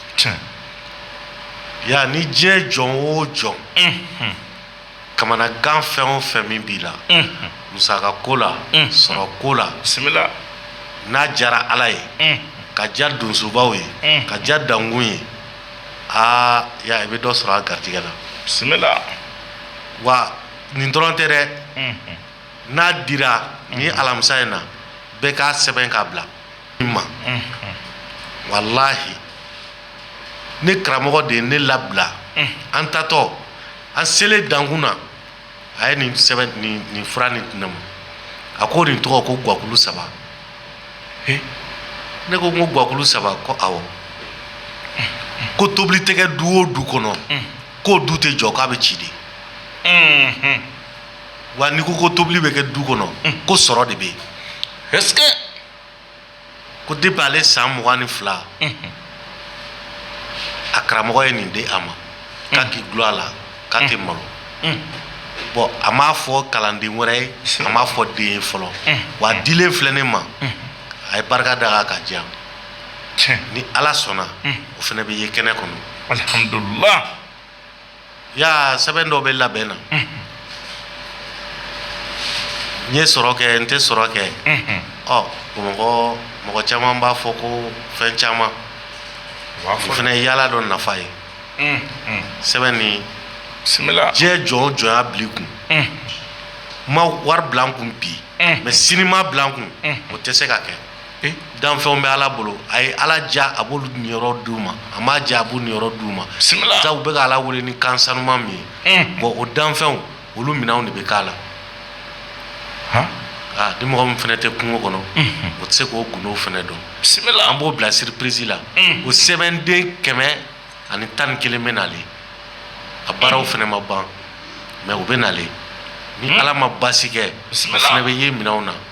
S1: Ya ni diɲɛ jɔn o jɔn kamanagan fɛn o fɛn min b'i la musaka ko la sɔrɔ ko la bisimila n'a diyara ala ye ka diya donsobaw ye ka diya dankun ye aa ya i bɛ dɔ sɔrɔ a garijɛgɛ la bisimila wa nin dɔrɔn tɛ dɛ n'a dira nin alamisa in na bɛɛ k'a sɛbɛn k'a bila ma walahi ne karamɔgɔ de ye ne labila an tatɔ an selen dankun na a ye nin sɛbɛn nin fura nin di ne ma a ko nin tɔgɔ ko gakulu saba ne ko ko gakulu saba ko awɔ ko tobili tɛ kɛ du o du kɔnɔ k'o du tɛ jɔ k'a bɛ ci de wa n'i ko ko tobili bɛ kɛ du kɔnɔ ko sɔrɔ de bɛ yen ko de bɛ ale san mugan ni fila a karamɔgɔ ye nin di a ma k'a k'i du a la k'a tɛ malo bɔn a m'a fɔ kalanden wɛrɛ ye a m'a fɔ den ye fɔlɔ wa dilen filɛ ne ma a ye barika da ka diya ni ala sɔnna o fana bɛ ye kɛnɛ kɔnɔ ya sɛbɛn dɔ bɛ labɛn na n ye sɔrɔ kɛ n tɛ sɔrɔ kɛ ɔ mɔgɔ mɔgɔ caman b'a fɔ ko fɛn caman o fana ye yaala dɔ nafa ye sɛbɛn ni diɲɛ jɔn o jɔn y'a bila i kun ma wari bila kun bi ma sini ma bila kun o tɛ se ka kɛ danfɛnw bɛ ala bolo a ye ala diya a b'olu niyɔrɔ di u ma a ma diya a niyɔrɔ di u ma u bɛ ala wele ni kan sanuman min ye bɔn o danfɛnw olu minɛnw de bɛ k'a la aa ni mɔgɔ min fana tɛ kungo kɔnɔ o tɛ se k'o gundo fana dɔn sɛbɛn na an b'o bila surprise la o sɛbɛnden kɛmɛ ani tan ni kelen bɛ nalen a baaraw fana ma ban mɛ u bɛ nalen ni ala ma basi kɛ bɛ ye minɛnw na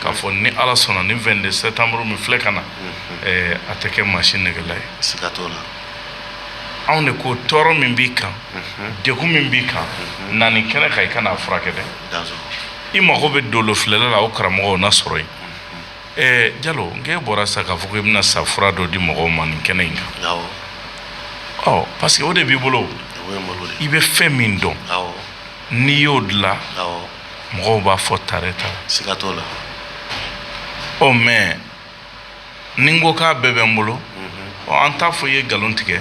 S1: k'a fɔ ni ala sɔnna ni vingt-deux septembre min filɛ ka na a tɛ kɛ maa si nɛgɛgela ye la anw de ko tɔɔrɔ min b'i kan degun min b'i kan na nin kɛnɛ kan i ka na a furakɛ dɛ i mago bɛ dolo filɛla la o karamɔgɔw na sɔrɔ yen ɛɛ jalo n k'e bɔra sa k'a fɔ ko i bɛna sa fura dɔ di mɔgɔw ma nin kɛnɛ in kan ɔ parce que o de b'i bolo i bɛ fɛn min dɔn n'i y'o dilan mɔgɔw b'a fɔ tare ta siga t'o la o mɛ ni n ko k'a bɛɛ bɛ n bolo an t'a fɔ o ye nkalontigɛ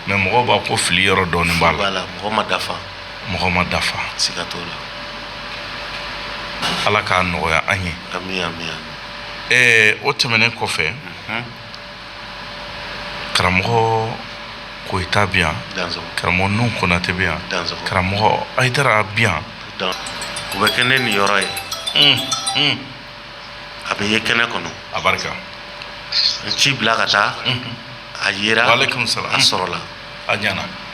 S1: mɛ mɔgɔ b'a ko fili yɔrɔ dɔɔni b'a la mɔgɔ ma dafa mɔgɔ ma dafa siga t'o la ala k'a nɔgɔya an ye o tɛmɛnen kɔfɛ karamɔgɔ koyita bɛ yan karamɔgɔ ninnu konatɛ bɛ yan karamɔgɔ hayidara bɛ yan u bɛ kɛnɛ nin yɔrɔ ye a bɛ ye kɛnɛ kɔnɔ a barika n ci bila ka taa a ye ale sɔrɔ a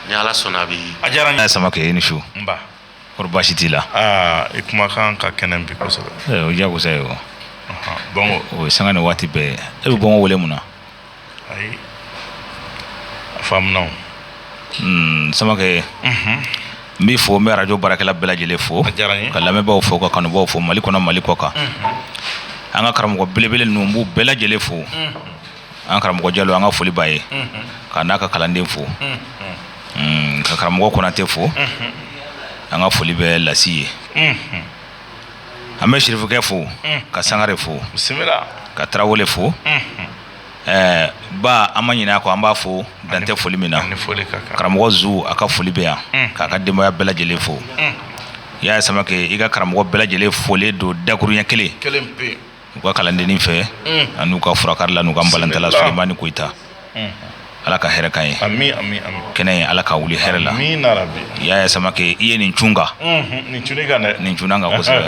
S1: ni ala sɔnna a bɛ a diyara n' samakɛ i ni su kɔrɔ baasi t'i la aa i kumakan ka kɛnɛ bi kosɛbɛ eh, o diyagosa ye o bɔnko o ye sanga ni waati bɛɛ e bɛ bɔnko wele mun na ayi a faamuna o hmm, samakɛ mhm. n b'i fo n bɛ arajo baarakɛla bɛɛ lajɛlen fo ka lamɛnbaaw fo ka kanubaaw fo mali kɔnɔ mali kɔkan mhm. an ka karamɔgɔ belebele ninnu n b'u bɛɛ lajɛlen fo mhm. an karamɔgɔ jalo an ka foli b'a ye k'a n'a ka kalanden fo mm, ka karamɔgɔ konatɛ fo an ka foli bɛ lasi ye an bɛ sirifikɛ fo ka sangare fo ka tarawele fo eh, ba an ma ɲina a kɔ an b'a fo dan tɛ foli min na karamɔgɔ zu a ka foli bɛ yan k'a ka denbaya bɛɛ lajɛlen fo i y'a ye samakɛ i ka karamɔgɔ bɛɛ lajɛlen folilen don dakurunɲɛ kelen u ka kalandennin fɛ mm. an'u ka furakarila n'u ka balantala soba ni koyita mm. ala ka hɛrɛ k'a ye kɛnɛ ye ala ka wuli hɛrɛ la i y'a ye samakɛ i ye nin cun kan mm-hmm. nin cun i kan dɛ nin cunna n kan kosɛbɛ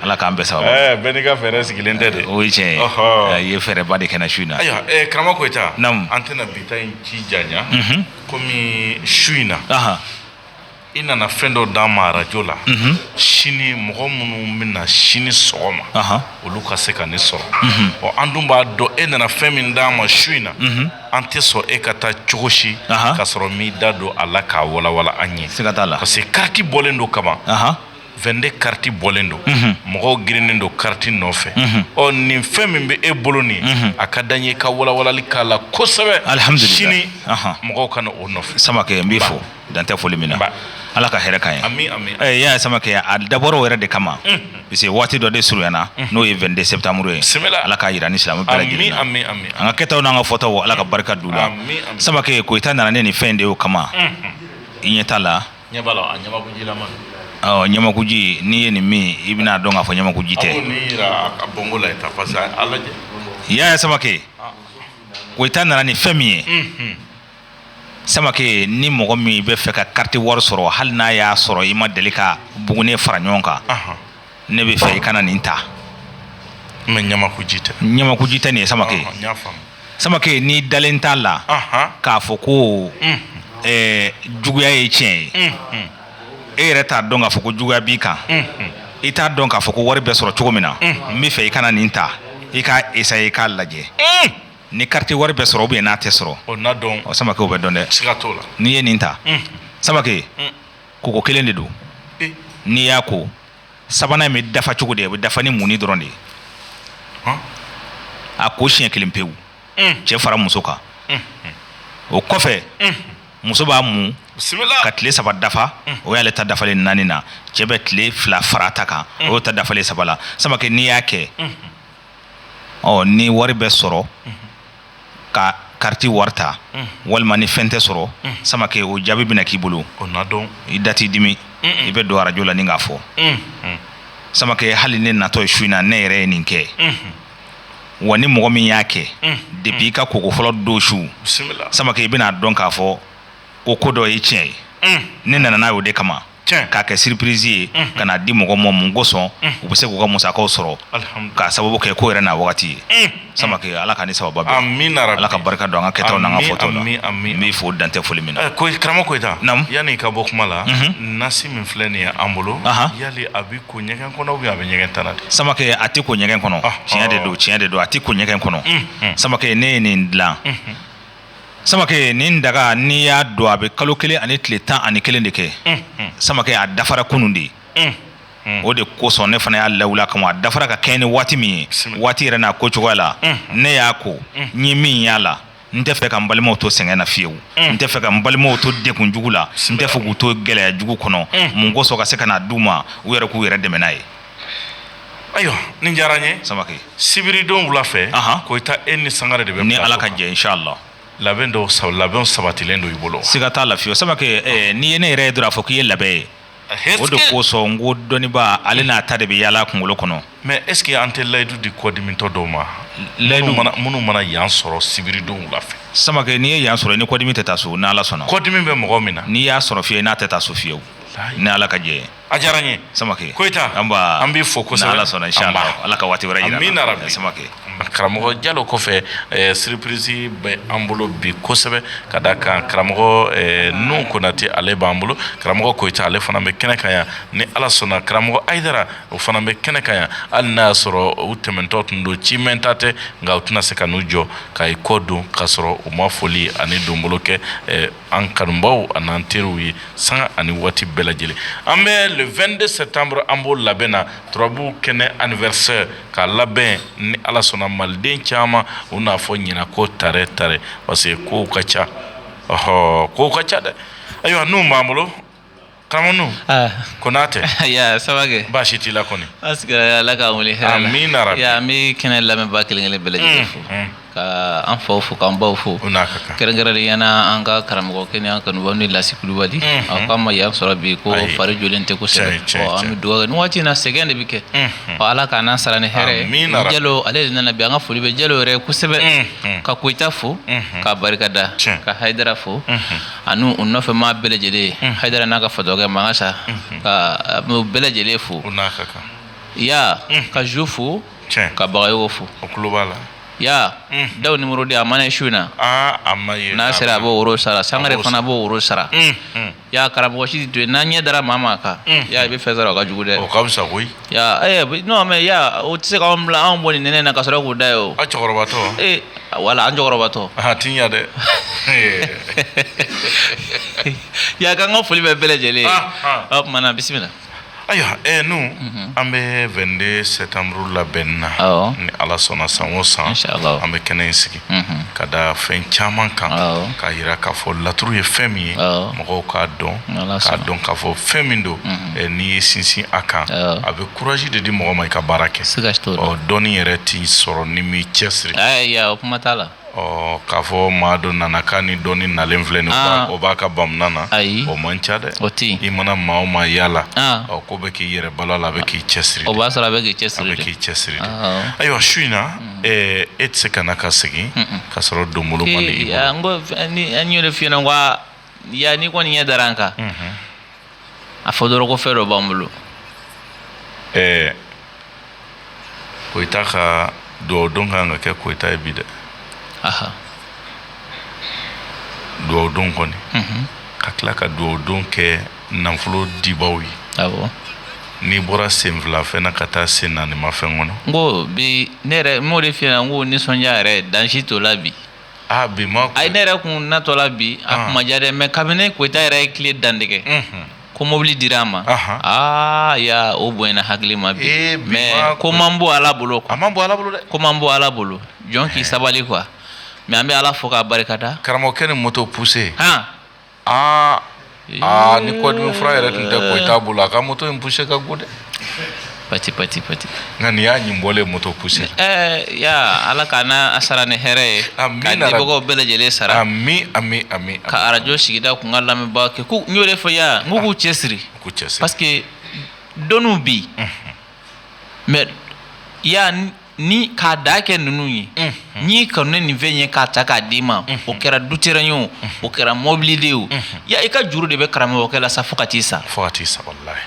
S1: ala k'an bɛɛ saba eh, bɛɛ n'i ka fɛɛrɛ sigilen tɛ de o ye tiɲɛ ye i ye fɛɛrɛba de kɛ an na su in na ayiwa eh, karamɔgɔ koyita an tɛna bi ta in si janya mm-hmm. komi su in na i nana fɛn dɔ d'an ma arajo la mhm. sini mɔgɔ minnu bɛna sini sɔgɔma olu ka se ka nin sɔrɔ mhm. ɔ an dun b'a dɔn e nana fɛn min d'an ma su in na mhm. an tɛ sɔn e ka taa cogo si k'a sɔrɔ i m'i da don a la k'a walawala an ye parce que kariti bɔlen don kaban vingt-deux kariti bɔlen don mhm. mɔgɔw girinnen don kariti nɔfɛ mhm. ɔ nin fɛn min bɛ e bolo nin mhm. a ka d'an ye ka walawalali k'a la kosɛbɛ sini mɔgɔw ka na o nɔfɛ samakɛ n b'i fo dan tɛ foli min na ala ka hɛrɛ k'an ye yaya samakɛ an dabɔra o yɛrɛ de kama parce que waati dɔ de surunyana n'o ye vingt-deux septembre ye ala k'a jira ni silamɛ bɛɛ la an ka kɛtaw n'an ka fɔtaw ala ka barika don u la samakɛ koyita nana ne ni fɛn de o kama i ɲɛ t'a la ɲamakuji n'i ye nin min i bɛn'a dɔn k'a fɔ ɲamakuji tɛ yaya samakɛ koyita nana ni fɛn min ye samakɛ ni mɔgɔ min b'a fɛ ka kariti wari sɔrɔ hali n'a y'a sɔrɔ i ma deli ka bugunen fara ɲɔgɔn kan ne b'a fɛ i ka na nin ta ɲamakuji tɛ nin ye samakɛ samakɛ n'i dalen t'a la k'a fɔ ko juguya ye tiɲɛ ye e yɛrɛ t'a dɔn k'a fɔ ko juguya b'i kan i t'a dɔn k'a fɔ ko wari bɛ sɔrɔ cogo min na n b'a fɛ i ka na nin ta i k'a essayer i k'a lajɛ ni kariti wari bɛ sɔrɔ o bɛ ye n'a tɛ sɔrɔ o na dɔn o samakɛ bɛ dɔn dɛ siga t'a la n'i ye nin ta samakɛ koko kelen de don n'i y'a ko sabanan in bɛ dafa cogo di a bɛ dafa ni munni dɔrɔn de ye a ko siɲɛ kelen pewu cɛ fara muso kan o kɔfɛ muso b'a mun ka tile saba dafa o y'ale ta dafalen naani na cɛ bɛ tile fila fara a ta kan o y'a ta dafalen saba la samakɛ n'i y'a kɛ ɔ ni wari bɛ sɔrɔ ka kariti wari ta walima ni fɛn tɛ sɔrɔ samakɛ o jaabi bɛna k'i bolo i da t'i dimi i bɛ don arajo la nin k'a fɔ samakɛ hali ne natɔ ye su in na ne yɛrɛ ye nin kɛ wa ni mɔgɔ min y'a kɛ depuis i ka koko fɔlɔ don su samakɛ i bɛn'a dɔn k'a fɔ ko ko dɔ ye tiɲɛ ye ne nana n'a ye o de kama k'a kɛ surprise ye ka n'a di mɔgɔ ma mun kosɔn u bɛ se k'u ka musakaw sɔrɔ k'a sababu kɛ ko yɛrɛ n'a wagati ye samakɛ ala ka ni saba ala ka barika don an ka kɛ fɔ fo dan tɛ foli min na karamɔgɔ koyita yanni n ka bɔ kuma la nasi min filɛ nin ye an bolo yan a bɛ ko ɲɛgɛn kɔnɔ a bɛ ɲɛgɛn ta samakɛ a tɛ ko ɲɛgɛn kɔnɔ tiɲɛ de don tiɲɛ de don a tɛ ko ɲɛgɛn kɔnɔ samakɛ ne ye nin dilan samake ni daga n'i y'a don a bɛ kalo kelen ani tile tan ani kelen de kɛ samake a dafara kunun de ye o de kosɔn ne fana y'a lawuila kama a dafara ka kɛɲɛ ni waati min ye waati yɛrɛ n'a ko cogoya la ne y'a ko ɲɛ min y'a la n tɛ fɛ ka n balimaw to sɛgɛn na fiyewu n tɛ fɛ ka n balimaw to degun jugu la n tɛ fɛ k'u to gɛlɛyajugu kɔnɔ mun kosɔn ka se k'a d'u ma u yɛrɛ k'u yɛrɛ dɛmɛ n'a ye Ayiwa nin diyara n ye samake sibiridon wula fɛ ko i e ni sanga de bɛ ni ala ka jɛ sa la labɛn dɔw sa labɛn sabatilen don i bolo se ka taa lafiye samake n'i ye ne yɛrɛ ye dɔrɔn a fɔ k'i ye labɛn ye o de kosɔn ko dɔnniba ale n'a ta de bɛ yaala kunkolo kɔnɔ mais est-ce que an tɛ layidu di kɔdimitɔ dɔw ma layidu minnu mana yan sɔrɔ sibiridon wula fɛ samake n'i ye yan sɔrɔ ni kɔdimi tɛ taa so n' sɔnna kɔdimi bɛ mɔgɔ min na n'i y'a sɔrɔ fiye n'a tɛ taa so fiyewu ni ala ka jɛ a diyara n ye samake koyita an b'a an b'i fo kosɛbɛ ala sɔnna insha Allah ala ka waati wɛrɛ jira an na rabi samake karamɔgɔ jalo kɔfɛ eh, surprise bɛ an bolo bi kosɛbɛ ka da kan karamɔgɔ eh, nun konate ale b'an bolo karamɔgɔ koyita ale fana bɛ kɛnɛ kan yan ni ala sɔnna karamɔgɔ ayidara o fana bɛ kɛnɛ kan yan hali n'a y'a sɔrɔ u tɛmɛntɔ tun don ci mɛɛnta tɛ nka u tɛna se ka n'u jɔ ka i kɔ don k'a sɔrɔ u ma foli ani donbolo kɛ eh, an kanubaw ani an teriw ye sanga ni waati bɛɛ lajɛlen an bɛ le 22 septembre an b'o labɛn na turabu kɛnɛ anniversaire k'a labɛn ni ala sɔnna maliden caman u n'a fɔ ɲinan ko tare tare parce que kow ka ca ɔɔ kow ka ca dɛ ayiwa n'u b'an bolo Karamɔgɔ konatɛ saba baasi si t'i la kɔni ala ka wele min na an bɛ kɛnɛ lamɛnbaa kelen kelen bɛɛ lajɛlen fo ka an faw fo k'an baw fo kɛrɛnkɛrɛnnenya la an ka karamɔgɔ kɛnɛya kanu ni lasi kulubali an k'an ma yan sɔrɔ bi ko fari jɔlen tɛ kosɛbɛ an bɛ ni waati in na sɛgɛn de bɛ kɛ ɔ ala ka n'an sara ni hɛrɛ min jalo ale de nana bi an ka foli bɛ jalo yɛrɛ kosɛbɛ ka koyita fo k'a barika da ka ayidara fo ani u nɔfɛ maa bɛɛ lajɛlen ayidara n'a ka fatɔkɛ magasa ka bɛɛ lajɛlen fo ya ka jo fo ka bagayogo fo ya dawu numéro di a mana su in na n'a sera a bɛ woro sara sangare fana b'o woro sara ya karamɔgɔsi don n'an ɲɛ dara maa ma kan ya i bɛ fɛn sara o ka jugu dɛ Ya ɛɛ non mais ya o tɛ se k'anw bila anw bɔ nin nɛnɛ in na ka sɔrɔ k'u da yen o. A cɛkɔrɔbatɔ. Ee wala an cɛkɔrɔbatɔ. A ti ɲa dɛ. Ya k'an ka foli bɛ bɛɛ lajɛlen ye. Ɔ tuma na bisimila. Ayiwa ɛɛ nu mhm. an bɛ 22 septembre labɛnni na. Awɔ. Ni Ala sɔnna san o san. Inchallahu. An bɛ kɛnɛ in sigi. ka da fɛn caman kan ka jira k'a fɔ laturu ye fɛn min ye mɔgɔw k'a dɔn k'a dɔn k'a fɔ fɛn min don n'i ye sinsin a kan a bɛ kuraji de di mɔgɔ ma i ka baara kɛ dɔnni yɛrɛ tɛ sɔrɔ n'i m'i cɛ siri o kuma t'a la ɔ k'a fɔ maa dɔ nana k'a ni dɔnni nalen filɛ nin o b'a ka bamanan na ayi o man ca dɛ o tɛ i mana maa ma yalala ɔ ko bɛ k'i yɛrɛ bala la a bɛ k'i cɛ siri o b'a sɔrɔ a bɛ k'i cɛ siri k'i cɛ siri ayiwa su in na e tɛ se ka na ka sigi ka sɔrɔ don bolo an yɛrɛ filɛ yan n'i kɔni ɲɛ dara an kan a fɔ dɔrɔn fɛn dɔ b'an bolo ɛɛ koyita ka dugawu don ka kan ka kɛ koyita ye bi dɛ dugawu don kɔni ka tila ka dugawu don kɛ nafolo dibaw ye awɔ n'i bɔra sen fila fɛn na ka taa sen naani ma fɛn kɔnɔ n ko bi ne yɛrɛ n b'o de f'i ɲɛna n ko nisɔndiya yɛrɛ dan si t'o la bi aa bi ma ayi ne yɛrɛ kun natɔ la bi a Ah. kun ma diya dɛ mɛ kabini koyita yɛrɛ ye tile dantigɛ Unhun. ko mobili dira a ma Aha. aa ya o bonyana hakili ma bi Eh, bi ma mɛ ko man bon ala bolo a ko man bon ala bolo dɛ ko man bon ala bolo jɔn k'i sabali kuwa mɛ an bɛ ala fo k'a barikada karamɔgɔkɛ ni moto poussé han aa aa ni kɔdimi fura yɛrɛ tun tɛ koyita bolo a ka moto in poussé ka go dɛ pati pati pati nka nin y'a ɲin bɔlen moto poussé ɛɛ ya ala k'a n'a a sara ni hɛrɛ ye Amin, ka Ala- dibagaw bɛɛ lajɛlen sara ami ami ami ka arajo sigida kun ka lamɛnbaa kɛ ko n y'o de fɔ ya n ko k'u cɛsiri ko cɛsiri parce que dɔnniw bi mɛ ya n- ni k'a da kɛ ninnu ye n'i kanu ne nin fɛn ye k'a ta k'a d'i ma o kɛra dutɛrɛn ye o o kɛra mɔbili de ye o ya i ka juru de bɛ karamɔgɔkɛ la sa fo ka t'i sa fo ka t'i sa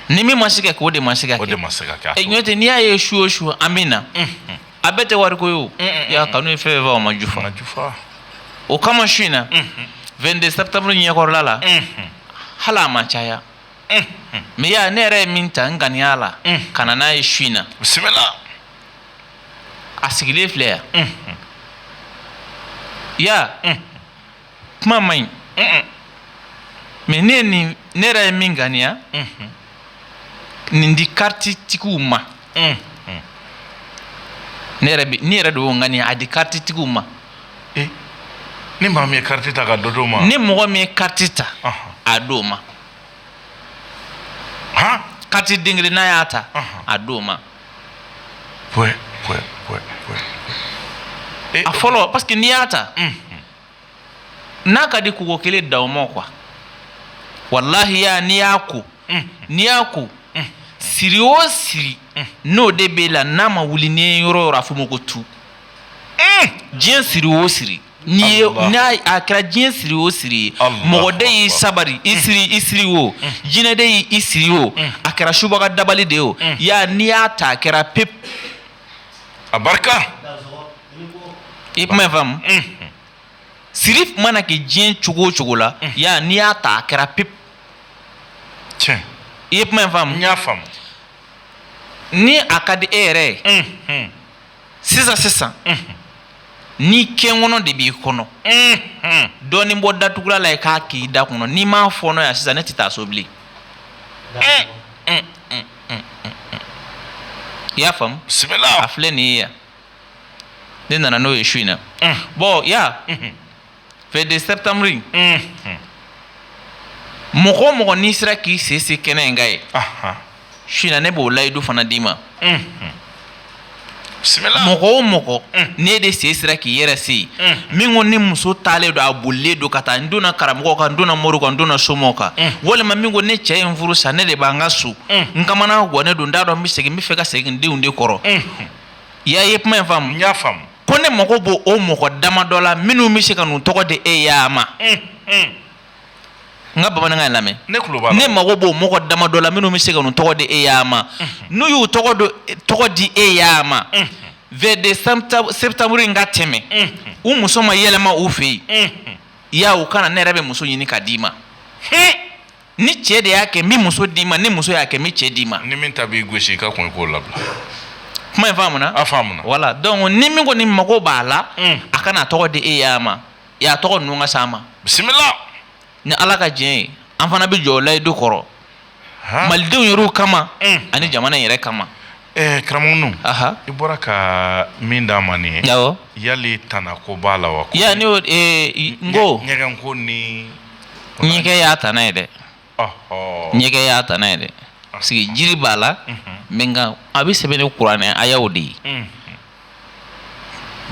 S1: ni min ma se kɛ k'o de ma se ka de ma se ka kɛ ɲɔ tɛ n'i y'a ye su o su an min na a bɛɛ tɛ wariko ye o y'a kanu ye fɛn fɛ o ma ju fana ju o kama su in na vingt-deux septembre yɛrɛ la hali a ma caya mɛ ya ne yɛrɛ ye min ta n ŋaniya la ka n'a ye su in na bisimila a sigilen filɛ yan ya kuma man ɲi mɛ ne nin ne yɛrɛ ye min ŋaniya nin di kariti tigiw ma ne yɛrɛ bɛ ne yɛrɛ de y'o ŋaniya a di kariti tigiw ma eh, ni maa min ye kariti ta ka dɔ d'o ma ni mɔgɔ min ye kariti ta a d'o ma kariti den kelen n'a y'a ta a d'o ma Pwe, pwe, pwe, pwe. Eh, a fɔlɔ parce que n'i y'a ta n'a ka di kɔgɔ kelen da o ma kuwa walayi Ya n'i y'a ko n'i y'a ko siri o siri n'o de b'e la n'a ma wuli n'i ye yɔrɔ o yɔrɔ a f'o ma ko tu diɲɛ siri o siri N'i ye Allah. n'a a kɛra diɲɛ siri o siri ye Allah mɔgɔ den y'i akbar. sabari i siri i siri o jinɛ den y'i i siri o a kɛra subaga dabali de ye o Ya n'i y'a ta a kɛra pep a barika i ye kuma in faamu siri mana kɛ diɲɛ cogo o cogo la Ya n'i y'a ta a kɛra pep tiɲɛ i ye kuma in faamu n y'a faamu ni a ka di e yɛrɛ ye sisan sisan ni kɛnkɔnɔ de b'i kɔnɔ dɔɔnin bɔ datugulan la i k'a k'i da kɔnɔ n'i m'a fɔɔnɔ yan sisan ne tɛ taa so bilen i y'a faamu a filɛ nin ye yan ne nana n'o ye su in na bon Ya vingt-deux septembre mɔgɔ o mɔgɔ n'i sera k'i sen se kɛnɛ in kan yen su ne b'o layidu fana d'i ma mɔgɔ o mɔgɔ n'e de sera k'i yɛrɛ se yen min ko ne muso taalen don a bolilen don ka taa n donna karamɔgɔ kan n donna mori kan n donna somaw kan walima min ko ne cɛ ye n furu sa ne de b'an ka so n ka gan ne don n t'a dɔn bɛ segin n b'a fɛ ka segin denw de kɔrɔ i y'a ye kuma in faamu n y'a faamu ko ne mago b'o o mɔgɔ dama dɔ la minnu bɛ se ka n'u tɔgɔ di e Ya ma nka bamanankan in lamɛn ne tulo b'a la. ne mago b'o mɔgɔ dama dɔ la minnu bɛ se ka n'u tɔgɔ di e Ya ma n'u y'u tɔgɔ do- tɔgɔ di e Ya ma vingt-deux septembre in ka tɛmɛ u muso ma yɛlɛma u fɛ yen Ya u ka na ne yɛrɛ bɛ muso ɲini ka d'i ma ni cɛ de y'a kɛ n bɛ muso d'i ma ni muso y'a kɛ n bɛ cɛ d'i ma ni min ta b'i gosi i ka kun k'o labila kuma in faamuna a faamuna voilà donc ni min ko ni mago b'a la mm. a ka n'a tɔgɔ di e Ya ma Ya tɔgɔ ninnu ka s'an ma bisimila ni ala ka diɲɛ ye an fana bɛ jɔ o layidu kɔrɔ malidenw yɛrɛw kama mm. ani jamana in yɛrɛ kama Ɛɛ karamɔgɔ i bɔra ka min d'an ma nin yali tana ko b'a la wa yan ko ɲɛgɛn ko ni ɲɛgɛn y'a tana ye dɛ ɲɛgɛn y'a tana ye dɛ parce que jiri b'a la nka a bɛ sɛbɛn ni kuranɛ ayaw de ye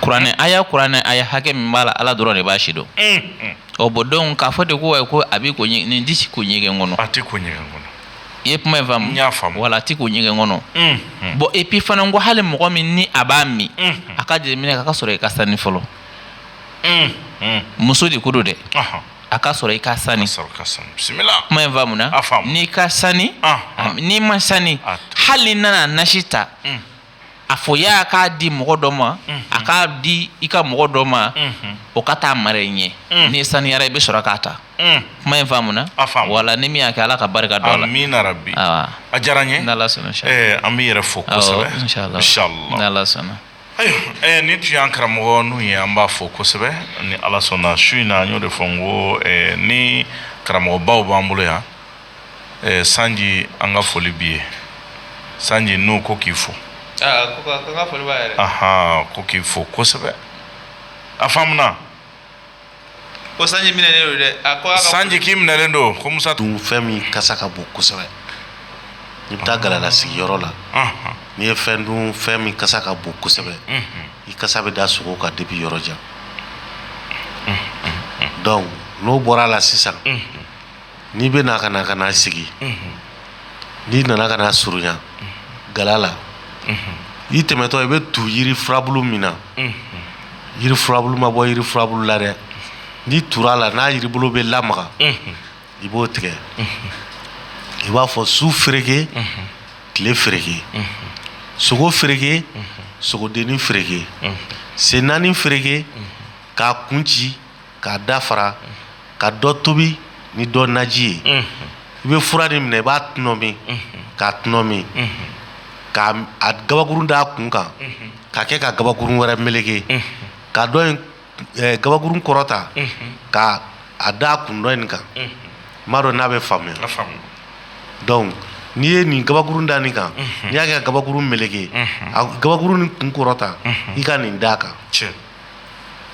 S1: kuranɛ aya kuranɛ aya hakɛ min b'a la ala dɔrɔn de b'a si dɔn ɔ bɔn donc a fɔ de ko ye ko a bɛ ko nin di ko ɲɛgɛn kɔnɔ a tɛ ko ɲɛgɛn kɔnɔ i ye kuma in faamu y'a faamu wala a tɛ ko ɲɛgɛn kɔnɔ bɔn epi fana ko hali mɔgɔ min ni a b'a min a ka jeli minɛ a ka sɔrɔ i ka sani fɔlɔ muso de ko don dɛ a ka sɔrɔ i ka sani sɔrɔ ka san bisimila kuma in faamu n'i ka sani n'i man sani hali nana nasi ta a fɔ a ye k'a di mɔgɔ dɔ ma a k'a di i ka mɔgɔ dɔ ma o ka taa a mara i ɲɛ n'i saniyara i bɛ sɔrɔ k'a ta kuma in faamu na wala ni min y'a kɛ ala ka barika don a la min na bi a diyara ye ala sɔnna an bɛ yɛrɛ fɔ ayiwa ni tun y'an karamɔgɔ n'u ye an b'a fo kosɛbɛ ni ala sɔnna su in na an y'o de fɔ n ko ni karamɔgɔbaw b'an bolo yan ɛɛ sanji an ka foli b'i ye sanji n'u ko k'i fo aa ko k'i fo kosɛbɛ a faamuya ko sanji minɛ don sanji k'i minɛlen don ko musa tun fɛn min kasa ka bon kosɛbɛ n'i bɛ taa gala sigiyɔrɔ la n'i ye fɛn dun fɛn min kasa ka bon kosɛbɛ i kasa bɛ da sogo kan depuis yɔrɔ jan donc n'o bɔra a la sisan n'i bɛ na ka na ka na sigi n'i nana ka na surunya gala la i tɛmɛtɔ i bɛ tu yiri furabulu min na yiri furabulu ma bɔ yiri furabulu la dɛ n'i tura a la n'a yiribolo bɛ lamaga i b'o tigɛ i b'a fɔ su fereke tile fereke sogo fereke sogodennin fereke sen naani fereke k'a kun ci k'a da fara ka dɔ tobi ni dɔ naji ye unhun, i bɛ fura nin minɛ i b'a tɔnɔmi k'a tɔnɔmi ka a gabakurun d'a kun kan ka kɛ ka gabakurun wɛrɛ meleke ka dɔ in eh, gabakurun kɔrɔta ka a d'a kun dɔ in kan n m'a dɔn n'a bɛ faamuya a faamu donc n'i ye nin gabakurun da nin kan n'i y'a kɛ ka gabakurun meleke a gabakurun nin kun kɔrɔta i ka nin d'a kan tiɲɛ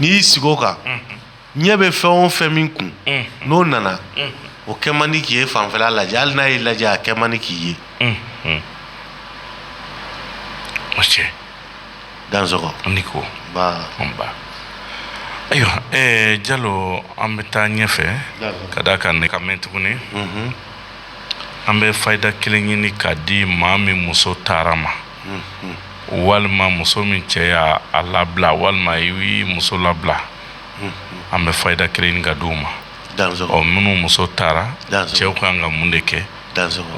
S1: n'i y'i sigi o kan ɲɛ bɛ fɛn o fɛn min kun n'o nana o kɛ man di k'i ye fanfɛla lajɛ hali n'a y'i lajɛ a kɛ man di k'i ye o cɛ dansɔgɔ a ni ko ba anba ayiwa ɛɛ jalo an bɛ taa ɲɛfɛ D'accord. ka d'a kan ne ka mɛn tuguni an bɛ fayida kelen ɲini k'a di maa min muso taara ma walima muso min cɛ ye a labila walima i muso labila an bɛ fayida kelen ɲini k'a di u ma ɔ minnu muso taara cɛw ka kan ka mun de kɛ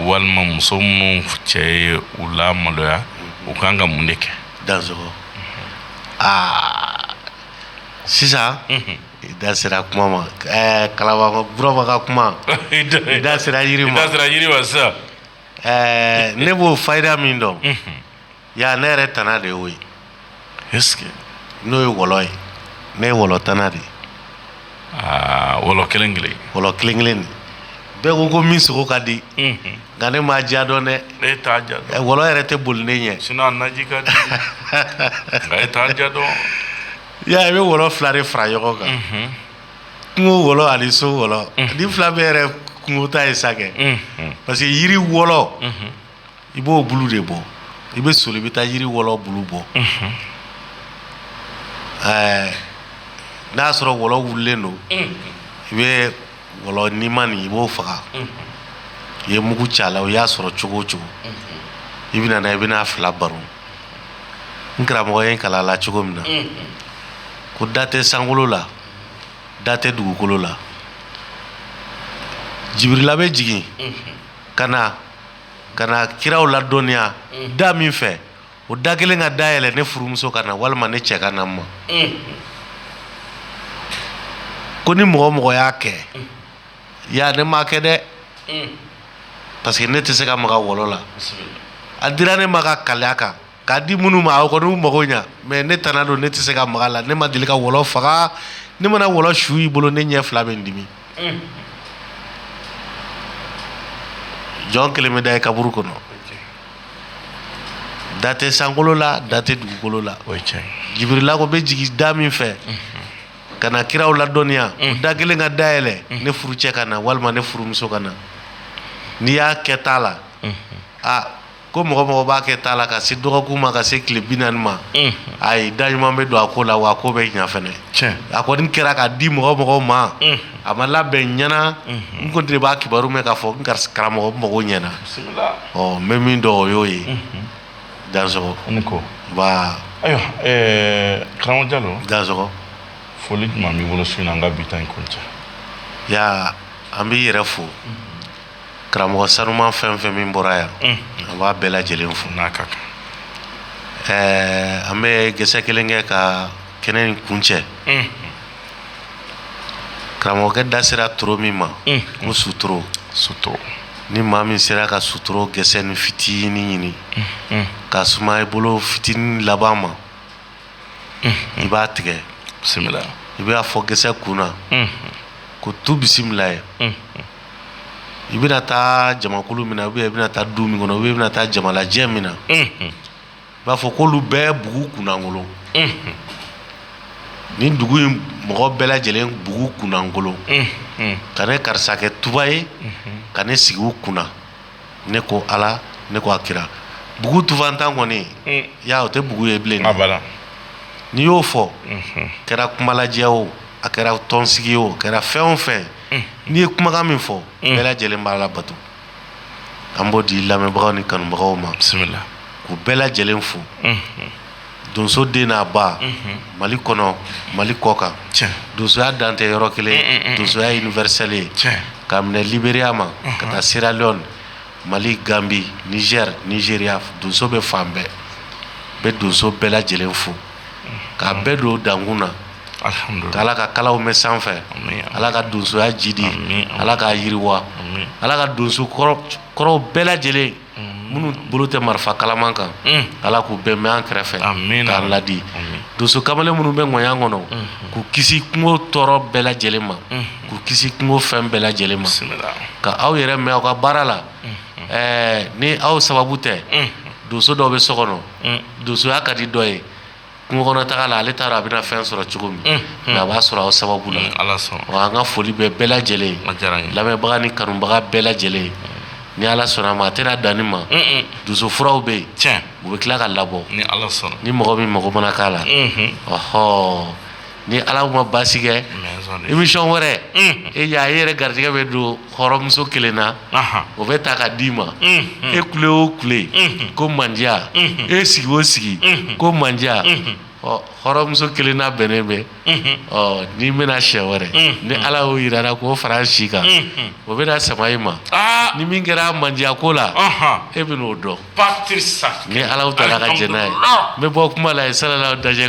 S1: walima muso minnu cɛ ye u lamaloya u ka kan ka mun de kɛ aa sisan I da sera kuma ma ɛɛ karamɔgɔ Burama ka kuma i da sera jiri ma sisan ɛɛ ne b'o fayida min dɔn yan ne yɛrɛ tana de y'o ye n'o ye wɔlɔ ye ne ye wɔlɔ tana de ye aa wɔlɔ kelen kelen wɔlɔ kelen kelen de bɛɛ ko ko min sogo ka di nka ne m'a diya dɔn dɛ wɔlɔ yɛrɛ tɛ boli ne ɲɛ dɔn I y'a ye, i bɛ wɔlɔ 2 de fara ɲɔgɔn kan, unhun, kungo wɔlɔ ani so wɔlɔ, unhun, ni 2 bɛɛ yɛrɛ ye kungo ta ye sa kɛ, unhun, parce que jiri wɔlɔ, unhun, i b'o bulu de bɔ, i bɛ soli i bɛ taa jiri wɔlɔ bulu bɔ, unhun, ɛɛ n'a y'a sɔrɔ wɔlɔ wulilen don, unhun, i bɛ Wɔlɔ nimanin i b'o faga i ye mugu c'a la u y'a sɔrɔ cogo o cogo i bɛna na i bɛna fila baro n karamɔgɔ ye kala la cogo min na ko da tɛ sankolo la da tɛ dugukolo la jibirila bɛ jigin ka na ka na kiraw ladɔnya da min fɛ o da kelen ka dayɛlɛ ne furumuso ka na walima ne cɛ ka na n ma ko ni mɔgɔ o mɔgɔ y'a kɛ ya ne m'a kɛ dɛ parce que ne tɛ se ka maga wɔlɔ la a dira ne ma ka kalaya kan k'a di minnu ma aw kɔni mago ɲɛ mais ne tana don ne tɛ se ka maga a la ne ma deli ka wɔlɔ faga ne mana wɔlɔ su y'i bolo ne ɲɛ fila bɛ n dimi jɔn kelen bɛ da ye kaburu kɔnɔ da tɛ sankolo la da tɛ dugukolo la jibirila ko bɛ jigin da min fɛ ka na kiraw ladɔnniya o da kelen ka dayɛlɛ ne furucɛ ka na walima ne furumuso ka na n'i y'a kɛ t'a la aa ko mɔgɔ o mɔgɔ b'a kɛ t'a la ka se dɔgɔkun ma ka se tile bi naani ma a ye da ɲuman bɛ don a ko la wa ko bɛ ɲa fɛnɛ a kɔni kɛra k'a di mɔgɔ o mɔgɔ ma a ma labɛn ɲɛna n ko de b'a kibaru mɛn k'a fɔ karamɔgɔ n mago ɲɛna ɔ n bɛ min dɔn o y'o ye danso ko ayiwa karamɔgɔ jalo danso foli tun b'i bolo sun an ka bi in ko cɛ ya an b'i yɛrɛ fo karamɔgɔ sanuma fɛn o fɛn min bɔra yan an b'a bɛɛ lajɛlen fo n'a ka kan ɛɛ an bɛ gɛsɛ kelen kɛ ka kɛnɛ nin kuncɛ karamɔgɔkɛ da sera toro min ma ko sutoro suto ni maa min sera ka sutoro gɛsɛ nin fitinin ɲini ka suma i bolo fitinin laban ma i b'a tigɛ bisimila i b'a fɔ gɛsɛ kun na ko tu bisimilayi i bɛna taa jamakulu min na o i bɛna taa du min kɔnɔ o i bɛna taa jamalajɛ min na i b'a fɔ ko olu bɛɛ bugu kunnankolon nin dugu in mɔgɔ bɛɛ lajɛlen bugu kunnankolon ka ne karisa kɛ tufa ye ka ne sigi u kunna ne ko ala ne ko a kira bugu tufantan kɔni ya o tɛ bugu ye bilen n'i y'o fɔ a kɛra kumalajɛ o a kɛra tɔnsigi o a kɛra fɛn o fɛn n'i ye kumakan min fɔ bɛɛ lajɛlen b'a labato an b'o di lamɛnbagaw ni kanubagaw ma bisimila k'u bɛɛ lajɛlen fo donso den n'a ba mali kɔnɔ mali kɔkan donsoya dan tɛ yɔrɔ kelen donsoya ye universel ye ka minɛ liberiya ma ka taa seraleyɔni Mali ganbi nizɛri nizeriya donso bɛ fan bɛɛ bɛ donso bɛɛ lajɛlen fo k'a bɛɛ don dankun na ala ka kalaw mɛn sanfɛ ala ka donsoya jidi ala ka yiriwa ala ka donso kɔrɔw bɛɛ lajɛlen minnu bolo tɛ marifa kalaman kan ala k'u bɛɛ mɛn an kɛrɛfɛ k'an ladi donso kamalen minnu bɛ ŋaɲan kɔnɔ k'u kisi kungo tɔɔrɔ bɛɛ lajɛlen ma k'u kisi kungo fɛn bɛɛ lajɛlen ma ka aw yɛrɛ mɛn aw ka baara la ni aw sababu tɛ donso dɔw bɛ so kɔnɔ donsoya ka di dɔ ye kungo kɔnɔ taga la ale taara a bɛna fɛn sɔrɔ cogo min nka a b'a sɔrɔ aw sababu la ala an ka foli bɛ bɛɛ lajɛlen lamɛnbaga ni kanubaga bɛɛ lajɛlen ni ala sɔnna a ma a tɛna dan nin ma donso furaw bɛ yen u bɛ tila k'a labɔ ni mɔgɔ min mɔgɔ mana k'a la ɔɔ ni ala ma basi kɛ émission wɛrɛ e y'a e yɛrɛ garijɛgɛ bɛ don hɔrɔnmuso kelen na o bɛ ta ka di i ma e kule o kule ko mandiya e sigi o sigi ko mandiya ɔ hɔrɔnmuso kelen n'a bɛnnen bɛ ɔ n'i bɛna siɲɛ wɛrɛ ni ala y'o jirara k'o fara si kan o bɛna sama e ma ni min kɛra mandiya ko la e bɛn'o dɔn ni ala taara ka jɛn n'a ye n bɛ bɔ kuma la ye sala dajɛ